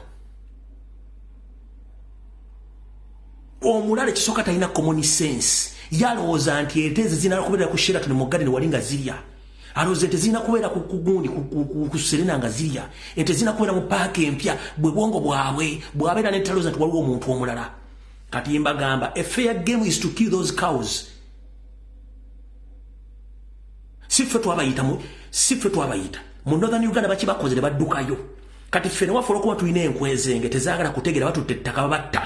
Speaker 1: omulaalo ekisooka talina common sense yalowooza nti ente eze zinala kubeera ku sheraton mu gadeni wali nga zirya aloze tezina kubeera kugundi ku serena nga zirya entezina kubeera mu paaka empya bwe bwongo bwabwe bwabeera netaloza nti waliwo omuntu omulala kati mbagamba a fair game is to kill those cows si ffe twabayita si ffe twabayita mu northern uganda bakibakoze ne baddukayo kati ffe newafuula okuba tulina enkwezenge tezaagala kutegeera batutte ettaka babatta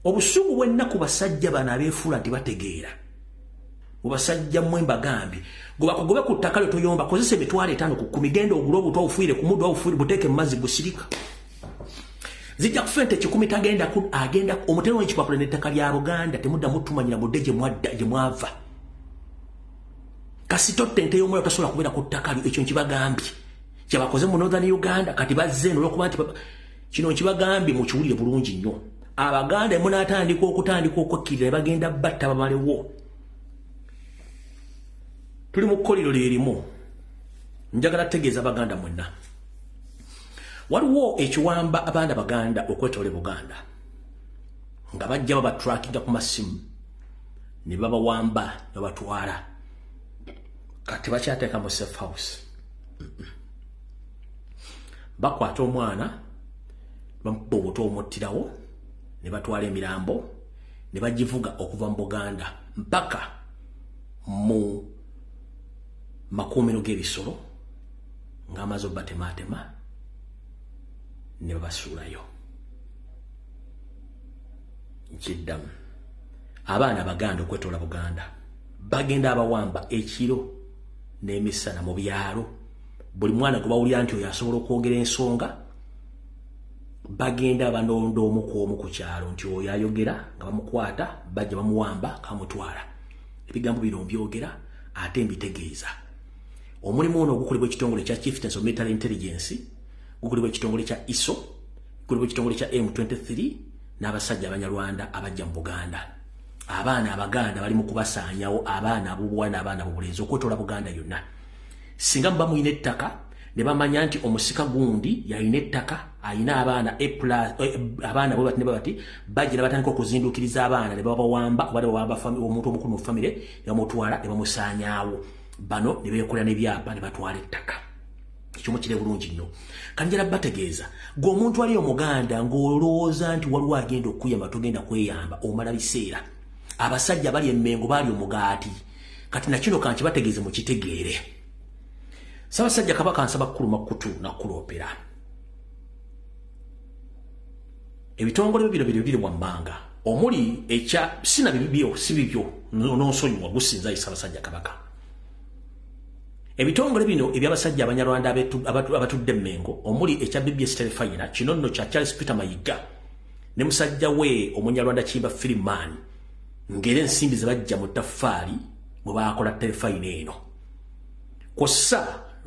Speaker 1: obusungu bwennaku basajja bano abeefuula nti bategeera mubasajja mwe mbagambye gobakugobe ku ttaka lyo toyomba kozesa emitwalo etaano ku kumi genda ogula obutwa ofuire ku muddu ofuire buteeke mu mazzi gusirika zijja kufa ente kikumi tagenda ku agenda omutero w'ekipapula n'ettaka lya buganda temuddamu tumanyira mudde gye mwadda gye mwava kasitotta ente y'omwoyo tasobola kubeera ku ttaka lyo ekyo nkibagambye kyebakoze mu northern uganda kati bazze eno olwokuba nti kino nkibagambye mukiwulire bulungi nnyo abaganda emunatandika okutandika okukkirira ne bagenda batta babalewo tuli mu kkoliro lyerimu njagala tutegeeza baganda mwenna waliwo ekiwamba abaana baganda okwetole buganda nga bajja babatrakinga ku masimu ne babawamba babatwala kati bakyateeka mu safe house bakwata omwana bamubba obuto omuttirawo ne batwala emirambo ne bagivuga okuva mu buganda mpaka mu makuumiro g'ebisolo ng'amaze obatemaatema ne babasuulayo nkiddamu abaana abaganda okwetoola buganda bagenda abawamba ekiro n'emisana mu byalo buli mwana gwe bawulira nti oyo asobola okwogera ensonga bagenda banonda omu ku omu ku kyalo nti oyo ayogera nga bamukwata bajja bamuwamba kamutwala ebigambo bino mbyogera ate mbitegeeza omulimu ono ogukolebwa ekitongole kya chieftains of military intelligence gukolebwa ekitongole kya iso gukolebwa ekitongole kya m23 n'abasajja abanyarwanda abajja mu buganda abaana abaganda bali mu kubasaanyawo abaana abubuwa n'abaana bubulenzi okwetoola buganda yonna singa muba mulina ettaka ne bamanya nti omusika gundi yalina ettaka alina abaana e eh, abaana bwe bati ne babati bagira batandika okuzinduukiriza abaana ne babawamba oba ne bawamba omuntu omukulu mu famire ne bamutwala ne bamusaanyaawo bano ne beekolera n'ebyapa ne batwala ettaka ekyomu kire bulungi nnyo kanjala bategeeza gwe omuntu ali omuganda ng'olowooza nti waliwo agenda okukuyamba togenda kweyamba omala biseera abasajja bali emmengo baali omugaati kati nakino kankibategeeze mukitegeere sabasajja kabaka nsaba kukuluma kutu nakuloopera ebitongole bibiro biro biri wammanga omuli ekya sina bibibyo si bibyo n'onsonyiwa gusinza ye sabasajja kabaka ebitongole bino ebyabasajja abanyarwanda abatudde mengo omuli ekya bbs telefayina kino nno kya charles peter mayigga ne musajja we omunyarwanda kiyimba filimaani ng'era ensimbi ze bajja mu ttaffaali mwe baakola terefayina eno kwossa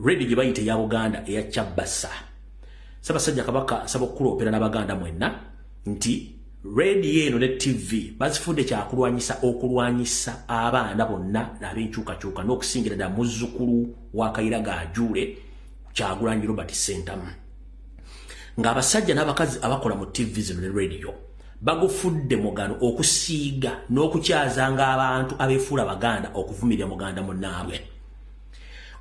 Speaker 1: redi gye bayita eya buganda eya kyabbasa sabasajja kabaka nsaba okukuloopera n'abaganda mwenna nti redi eno ne ttivi bazifudde kyakulwanyisa okulwanyisa abaana bonna n'ab'enkyukakyuka n'okusingira ddala muzzukulu wa kayira gaajuule kyagulanyi robert sentamu ng'abasajja n'abakazi abakola mu ttivi zino ne rediyo bagufudde mugano okusiiga n'okukyazanga abantu abefuula baganda okuvumirira muganda munaabwe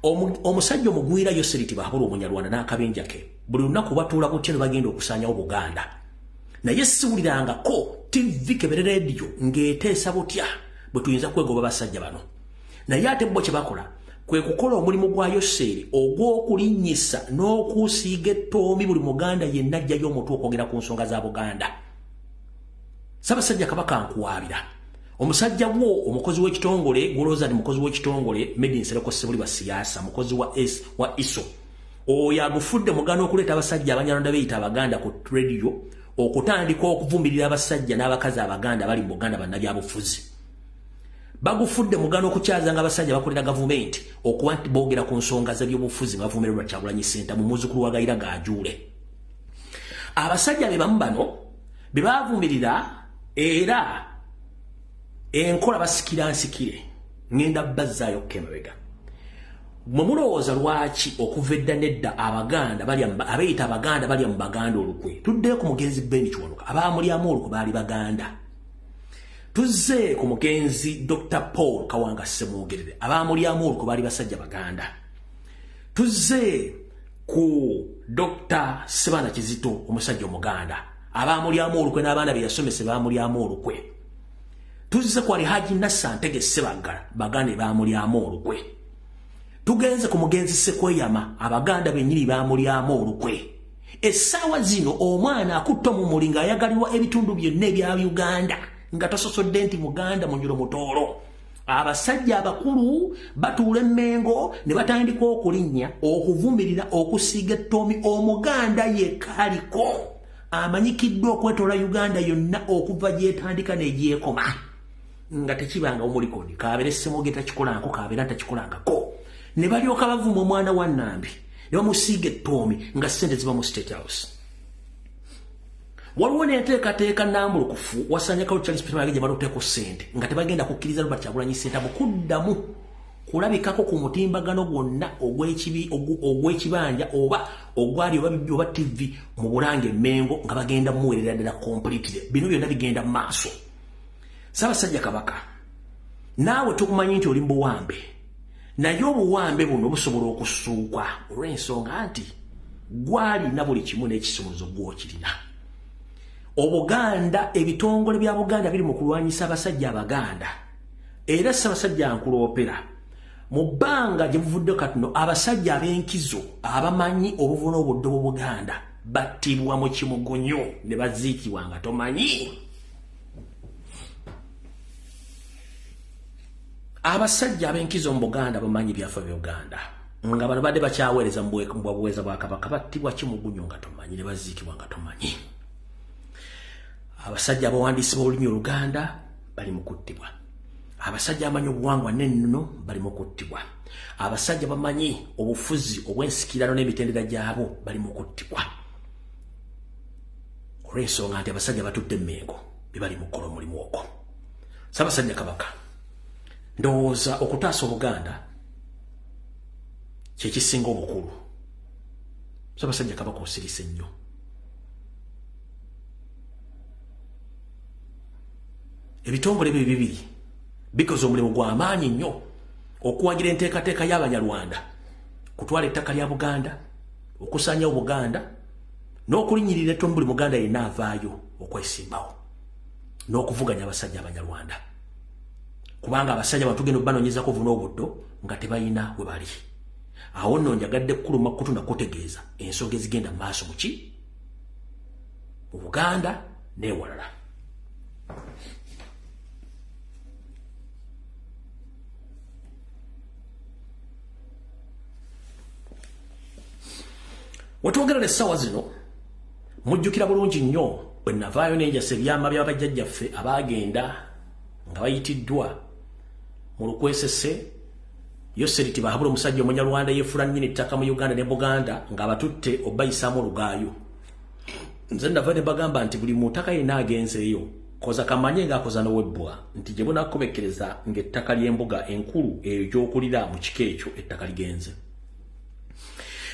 Speaker 1: omusajja omugwira yoseriti bahabula omunyarwanda n'akabinja ke buli lunaku batuula kutya ne bagenda okusaanyawo buganda naye siwulirangako tivi kebere rediyo ng'eteesa butya bwe tuyinza kwegoba basajja bano naye ate bo kye bakola kwe kukola omulimu gwa yoseeri ogw'okulinnyisa n'okuusiiga ettoomi buli muganda yenna ajjayo omutwe okwogera ku nsonga za buganda sabasajja kabaka nkuwaabira omusajja wo omukozi w'ekitongole gwolowooza nti mukozi w'ekitongole medi nsereko sebuli basiyaasa mukozi wa s wa iso oyo agufudde mugana okuleeta abasajja abanyarwanda beyita abaganda ku radio okutandika okuvumirira abasajja n'abakazi abaganda bali mu buganda bannabyabufuzi bagufudde mugano okukyaza nga abasajja bakolera gavumenti okuba nti boogera ku nsonga zebyobufuzi bavumirerwa kyagulanyi senta mu muzukulu wa gayira gajuule abasajja be bamu bano be bavumirira era enkola basikira nsikire ngenda bazzaayo kukemabega mwe mulowooza lwaki okuva edda nedda abaganda abeeyita abaganda balya mu baganda olukwe tuddeyo ku mugenzi beni kiwanuka abaamulyamu olukwe baali baganda tuzze ku mugenzi dr paul kawanga semwogerere abaamulyamu olwo kubaali basajja baganda tuzze ku dr sibana kizito omusajja omuganda abaamulyamu olukwe n'abaana be yasomese baamulyamu olukwe tuzze ku ali haji nassa ntege sebaggala baganda ebaamulyamu olukwe tugenze ku mugenzi sekweyama abaganda bennyini baamulyamu olukwe essaawa zino omwana akutta omumuli ng'ayagalirwa ebitundu byonna ebya uganda nga tososodde nti muganda munyulo mutoolo abasajja abakulu batuula emmengo ne batandika okulinnya okuvumirira okusiiga ettoomi omuganda yekka aliko amanyikiddwa okwetoola uganda yonna okuva gyetandika negyekoma nga tekibanga omulikoni kabeere ssemogeta kikolanko kabeera takikolangako ne balyoka bavuma omwana wa nambi ne bamusiiga ettoomi nga ssente ziba mu state house waliwo n'enteekateeka nambulukufu wasaanyakalo charles peter mayege gye baloteeko ssente nga tebagenda kukkiriza robert kyagulanyi ssente mu kuddamu kulabikako ku mutimbagano gwonna ogw'ekibanja oba ogwali oba bibbi oba ttivi mu bulanga emmengo nga bagenda muweerera ddala kompulitire bino byonna bigenda mu maaso ssaabasajja kabaka naawe tukumanyi nti oli mu buwambe naye obuwambe buno busobola okusuuka olw'ensonga nti gwalina buli kimu n'ekisumuluzo gwokirina obuganda ebitongole bya buganda biri mu kulwanyisa abasajja abaganda era ssabasajja nkuloopera mu bbanga gye buvudde katuno abasajja ab'enkizo abamanyi obuvuna obudde bw'obuganda battibwa mu kimugunyo ne baziikibwa nga tomanyi abasajja abenkizo mu buganda bamanyi byafa byuganda nga bano badde bakyaweereza mubuweereza bwa kabaka battibwa kimugunyo nga tomanyi ne baziikibwa nga tomanyi abasajja abawandiisi b'olulimi oluganda bali mu kuttibwa abasajja amanyi obuwangwa n'ennono bali mu kuttibwa abasajja bamanyi obufuzi obw'ensikirano n'emitendera gyabwo bali mu kuttibwa olw'ensonga nti abasajja batutte emmengo bye bali mu kukola omulimu ogwo sabasajja kabaka ndowooza okutaasa obuganda kyekisinga obukulu sabasajja kabaka osirise nnyo ebitongole bye bibiri bikoze omulimu gwamaanyi nnyo okuwagira enteekateeka y'abanyarwanda kutwala ettaka lya buganda okusanyawo buganda n'okulinyirira eto mu buli muganda yenna avaayo okwesimbawo n'okuvuganya abasajja abanyarwanda kubanga abasajja batugenda obanonyezako vuna obuddo nga tebalina we bali awo nno njagadde kukuluma kutu nakutegeeza ensonga ezigenda mu maaso muki mu buganda newalala wetwogerera essaawa zino mujjukira bulungi nnyo bwe navaayo nenjasa ebyama bya bajjajjaffe abaagenda nga bayitiddwa mu lukwesese yoseri ti bahabula omusajja omunyarwanda yefula nnyini ettaka mu uganda ne buganda ng'abatutte obayisaamu olugaayo nze nava ne bagamba nti buli muntaka yenna agenzeeyo koza kamanye ng'akoza nowebbwa nti gye bunakomekkereza ng'ettaka ly'embuga enkulu eyo gy'okulira mu kika ekyo ettaka ligenze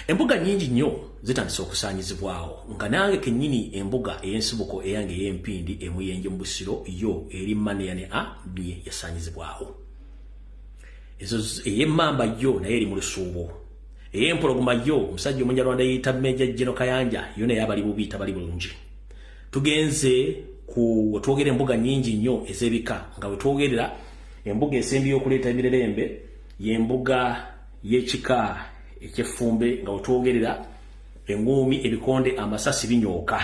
Speaker 1: embuga nyingi nnyo zitandise okusaanyizibwawo nga nange kennyini embuga ey'ensibuko eyange ey'empindi emuyenje mu busiro yo eri maneya ne a bye yasaanyizibwawo ezo ey'emmamba yo naye eri mu lusuubo ey'empologoma yo omusajja omunyarwanda yeeyita meja jeno kayanja yo naye abali bubi tabali bulungi tugenze ku wetwogera embuga nyingi nnyo ez'ebika nga wetwogerera embuga esembi y'okuleeta emirerembe y'embuga y'ekika eky'effumbe nga wetwogerera eng'uumi ebikonde amasasi binyooka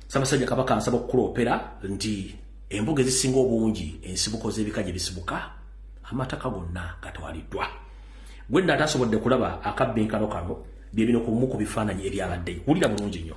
Speaker 1: sabasajja kabaka nsaba okukuloopera nti embuga ezisinga obungi ensibuko z'ebika gye bisibuka amataka gonna gatwaliddwa gwenna atasobodde kulaba akabbinkano kano bye bino ku bimu ku bifaananyi ebyabaddeyo wulira bulungi nnyo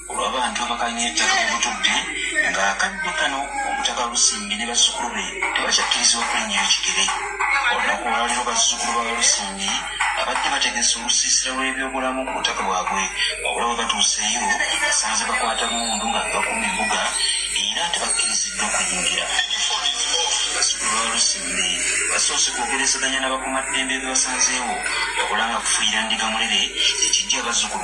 Speaker 3: olw'abantu abakanya ettaka mu butudde ng'akadde kano omutaka lusimbi ne bazzukulu be tebakyakkirizibwa kulinnyayo kigere olunaku olwaliro bazzukulu ba lusimbi abadde bategese olusiisira lw'ebyobulamu ku butaka bwabwe wabula bwe batuuseeyo basanze bakwata mundu nga bakuma embuga era tebakkiriziddwa kuyingira balusimbi basoose kwogerezeganya n'abakumaddembe bebasanzeewo wabula nga kufuyira ndiga mulere ekijja bazzukulu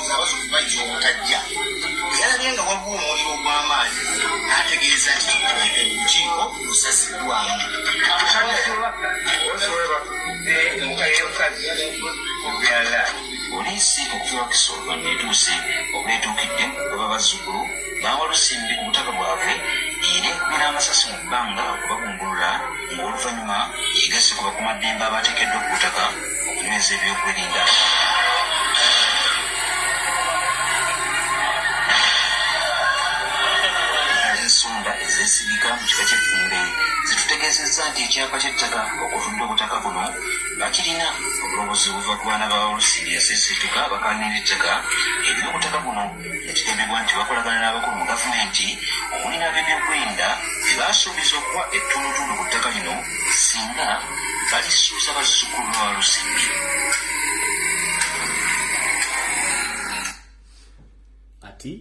Speaker 3: abazukuba nti obutajja bwe yalabye nga waliwo omuliro ogw'amaanyi n'ategeeza nti olukiiko lusaziddwamu poliisi okuva kisolwa neetuuse obwetuukidde baba bazzukulu baawa lusimbi ku butaka bwabwe era ekubira amasasi mu bbanga okubagumbulula ng'oluvannyuma yegasse ku bakumaddembe abaateekeddwa ku butaka okunyweza ebyokwerinda ensonda ezesigika mu kika ky'effumbe zitutegeezezza nti ekyapa ky'ettaka okutunda obutaka buno nga kirina obulobozi buva ku baana ba olusi yaseseetuka bakaanira ettaka eby'obutaka buno Kigambibwa nti bakolagana n'abakulu mu gavumenti omuli n'abebyokwerinda be basuubiza okuwa ettundutundu ku ttaka lino singa balisuuza bazzukulu ba Lusimbi.
Speaker 1: Kati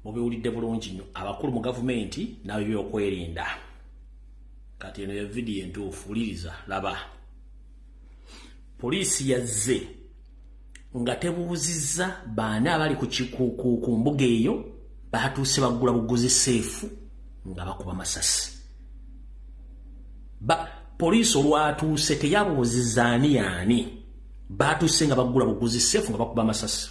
Speaker 1: mubiwulidde bulungi nnyo abakulu mu gavumenti n'abebyokwerinda kati eno ya vidiyo entuufu wuliriza laba poliisi yazze nga tebuuzizza baana abali ku mbuga eyo baatuuse baggula buguzi seefu nga bakuba masasi poliisi olwatuuse teyabuuzizza ani yaani baatuuse nga baggula buguzi seefu nga bakuba masasi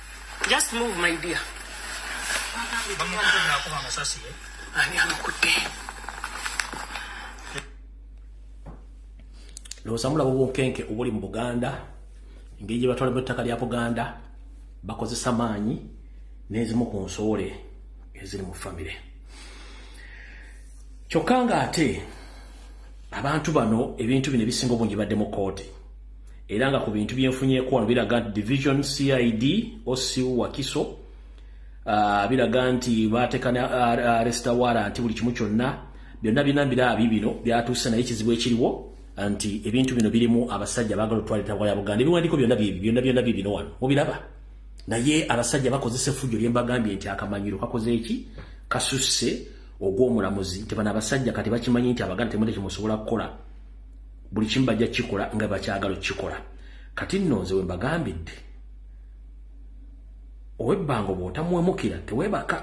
Speaker 4: Just move my dear.
Speaker 5: Ani amukutte?
Speaker 1: Lowooza mulaba obunkenke obuli mu Buganda engeri gye batwalamu ettaka lya Buganda bakozesa maanyi n'ezimu ku nsoole eziri mu famire. Kyokka ng'ate abantu bano ebintu bino ebisinga obungi badde mu kkooti. era nga ku bintu byenfunyeeko wano biraga nti division cid osiu wakiso uh, biraga nti baateka ne aresta uh, wara nti buli kimu kyonna byonna birina biraabi bino byatuuse naye ekizibu ekiriwo nti ebintu bino birimu abasajja bagala otwalitabwa ya buganda ebiwandiiko byonna byebi byonna byonna bye bino wano mubiraba naye abasajja bakozesa efujjo lye mbagambye nti akamanyiro kakoze eki kasusse ogw'omulamuzi nti bano abasajja kati bakimanyi nti abaganda temuli kyemusobola kukola buli kimu bajja kukikola nga bakyagala okukikola kati nno nze we mbagambidde owebbanga oba otamuwemukira tewebaka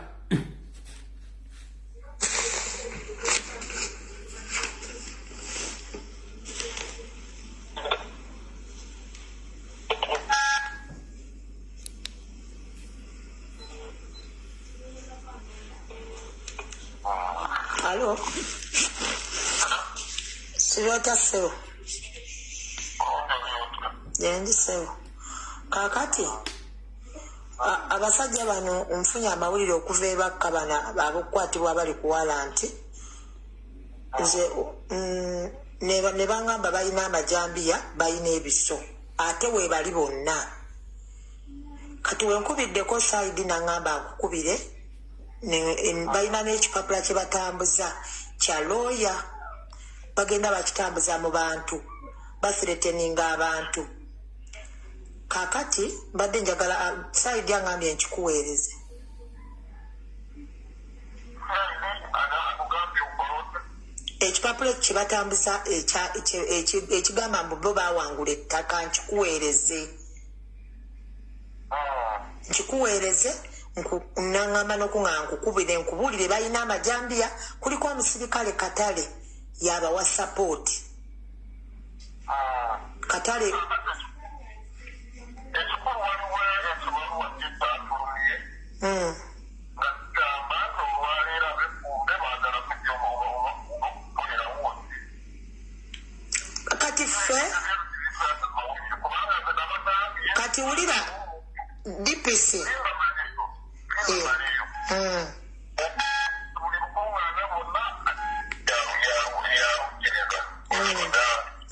Speaker 6: Alo. Sirota sebo. Yendi sebo. Kakati. Abasajja bano nfunye amawulire okuva ebakka bana abakukwatibwa bali kuwala nti nze mm, ne bangamba balina amajambiya balina ebiso ate webali bonna kati wenkubiddeko saidi nangamba akukubire balina n'ekipapula kye batambuza kya looya bagenda bakitambuza mu bantu basireteninga abantu kakati mbadde njagala ah, saidi angambye nkikuweereze ekipapula ekyo kyebatambuza ekigamba mbu bo bawangula ettaka nkikuweereze nkikuweereze nangamba nokunga nkukubire nkubuulire balina amajambiya kuliko omusirikale katale yabawa sapooti katale Mm. kati ffe kati wulira dpc Eh, mm.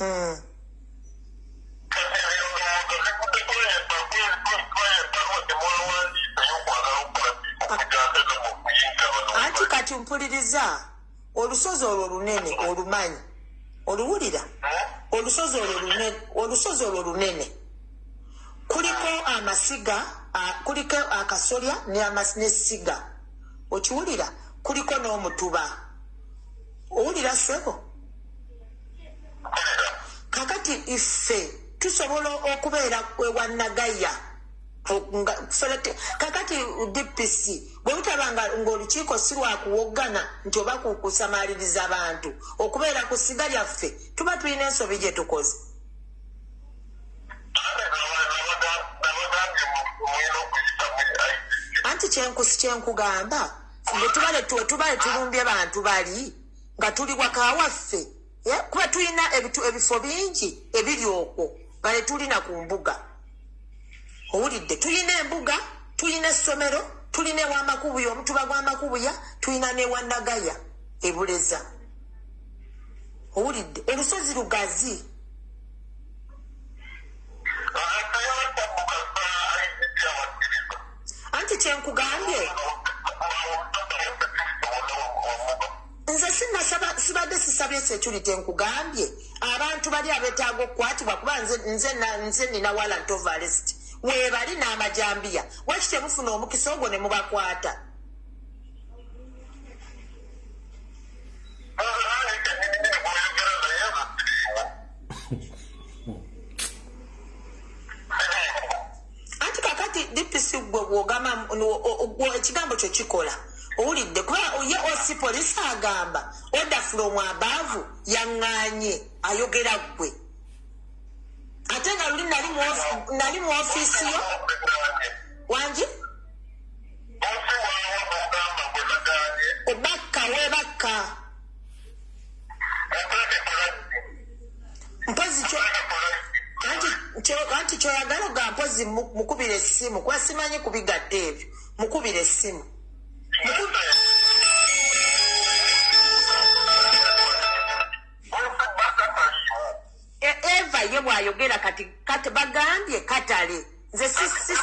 Speaker 6: Mm. anti kati mpuliriza olusozi olwo lunene olumanyi oluwulira olusozi olwo lunene olusozi olwo lunene kuliko amasiga a- kuliko akasolya n'amas- n'essiga okiwulira kuliko n'omutuba owulira sebo kakati iffe tusobola okubeera ewa nagaya kakati dpc bwebutaba ngaolukiiko si lwakuwoggana nti oba kusamaliriza bantu okubeera ku siga lyaffe tuba tulina ensobi gyetukoze anti kyenkusi kyenkugamba bwetubale tulumbye bantu bali nga tuli wakawaffe Eh, kuba tulina ebifo bingi ebiri okwo nga tetulina ku mbuga owulidde tulina embuga tulina essomero tulina ewamakubuya omutuba gwamakubuya tulina newanagaya ebuleza owulidde olusozi lugazi anti kyenkugambye nze sinasaba sibadde sisabye security nkugambye abantu bali abetaaga okukwatibwa kuba nze nze na- nze nina warrant of arrest webali n'amajambiya waki temufuna omukisa ogwo ne mubakwata anti kakati dpc gwe bwogamba ekigambo kyo kikola owulidde kuba ye oc polisi agamba oda fulomu abaavu yaŋŋanye ayogera ggwe ate nga luli nali mu ofiisi yo wangi obakka webakka mpozi kyo anti kyo- anti kyoyagala oga mpozi mu- mukubira essimu kuba simanyi kubigadde ebyo mukubira essimu E- eva ye bwayogera kati kati bagambye katale nze si- si- si-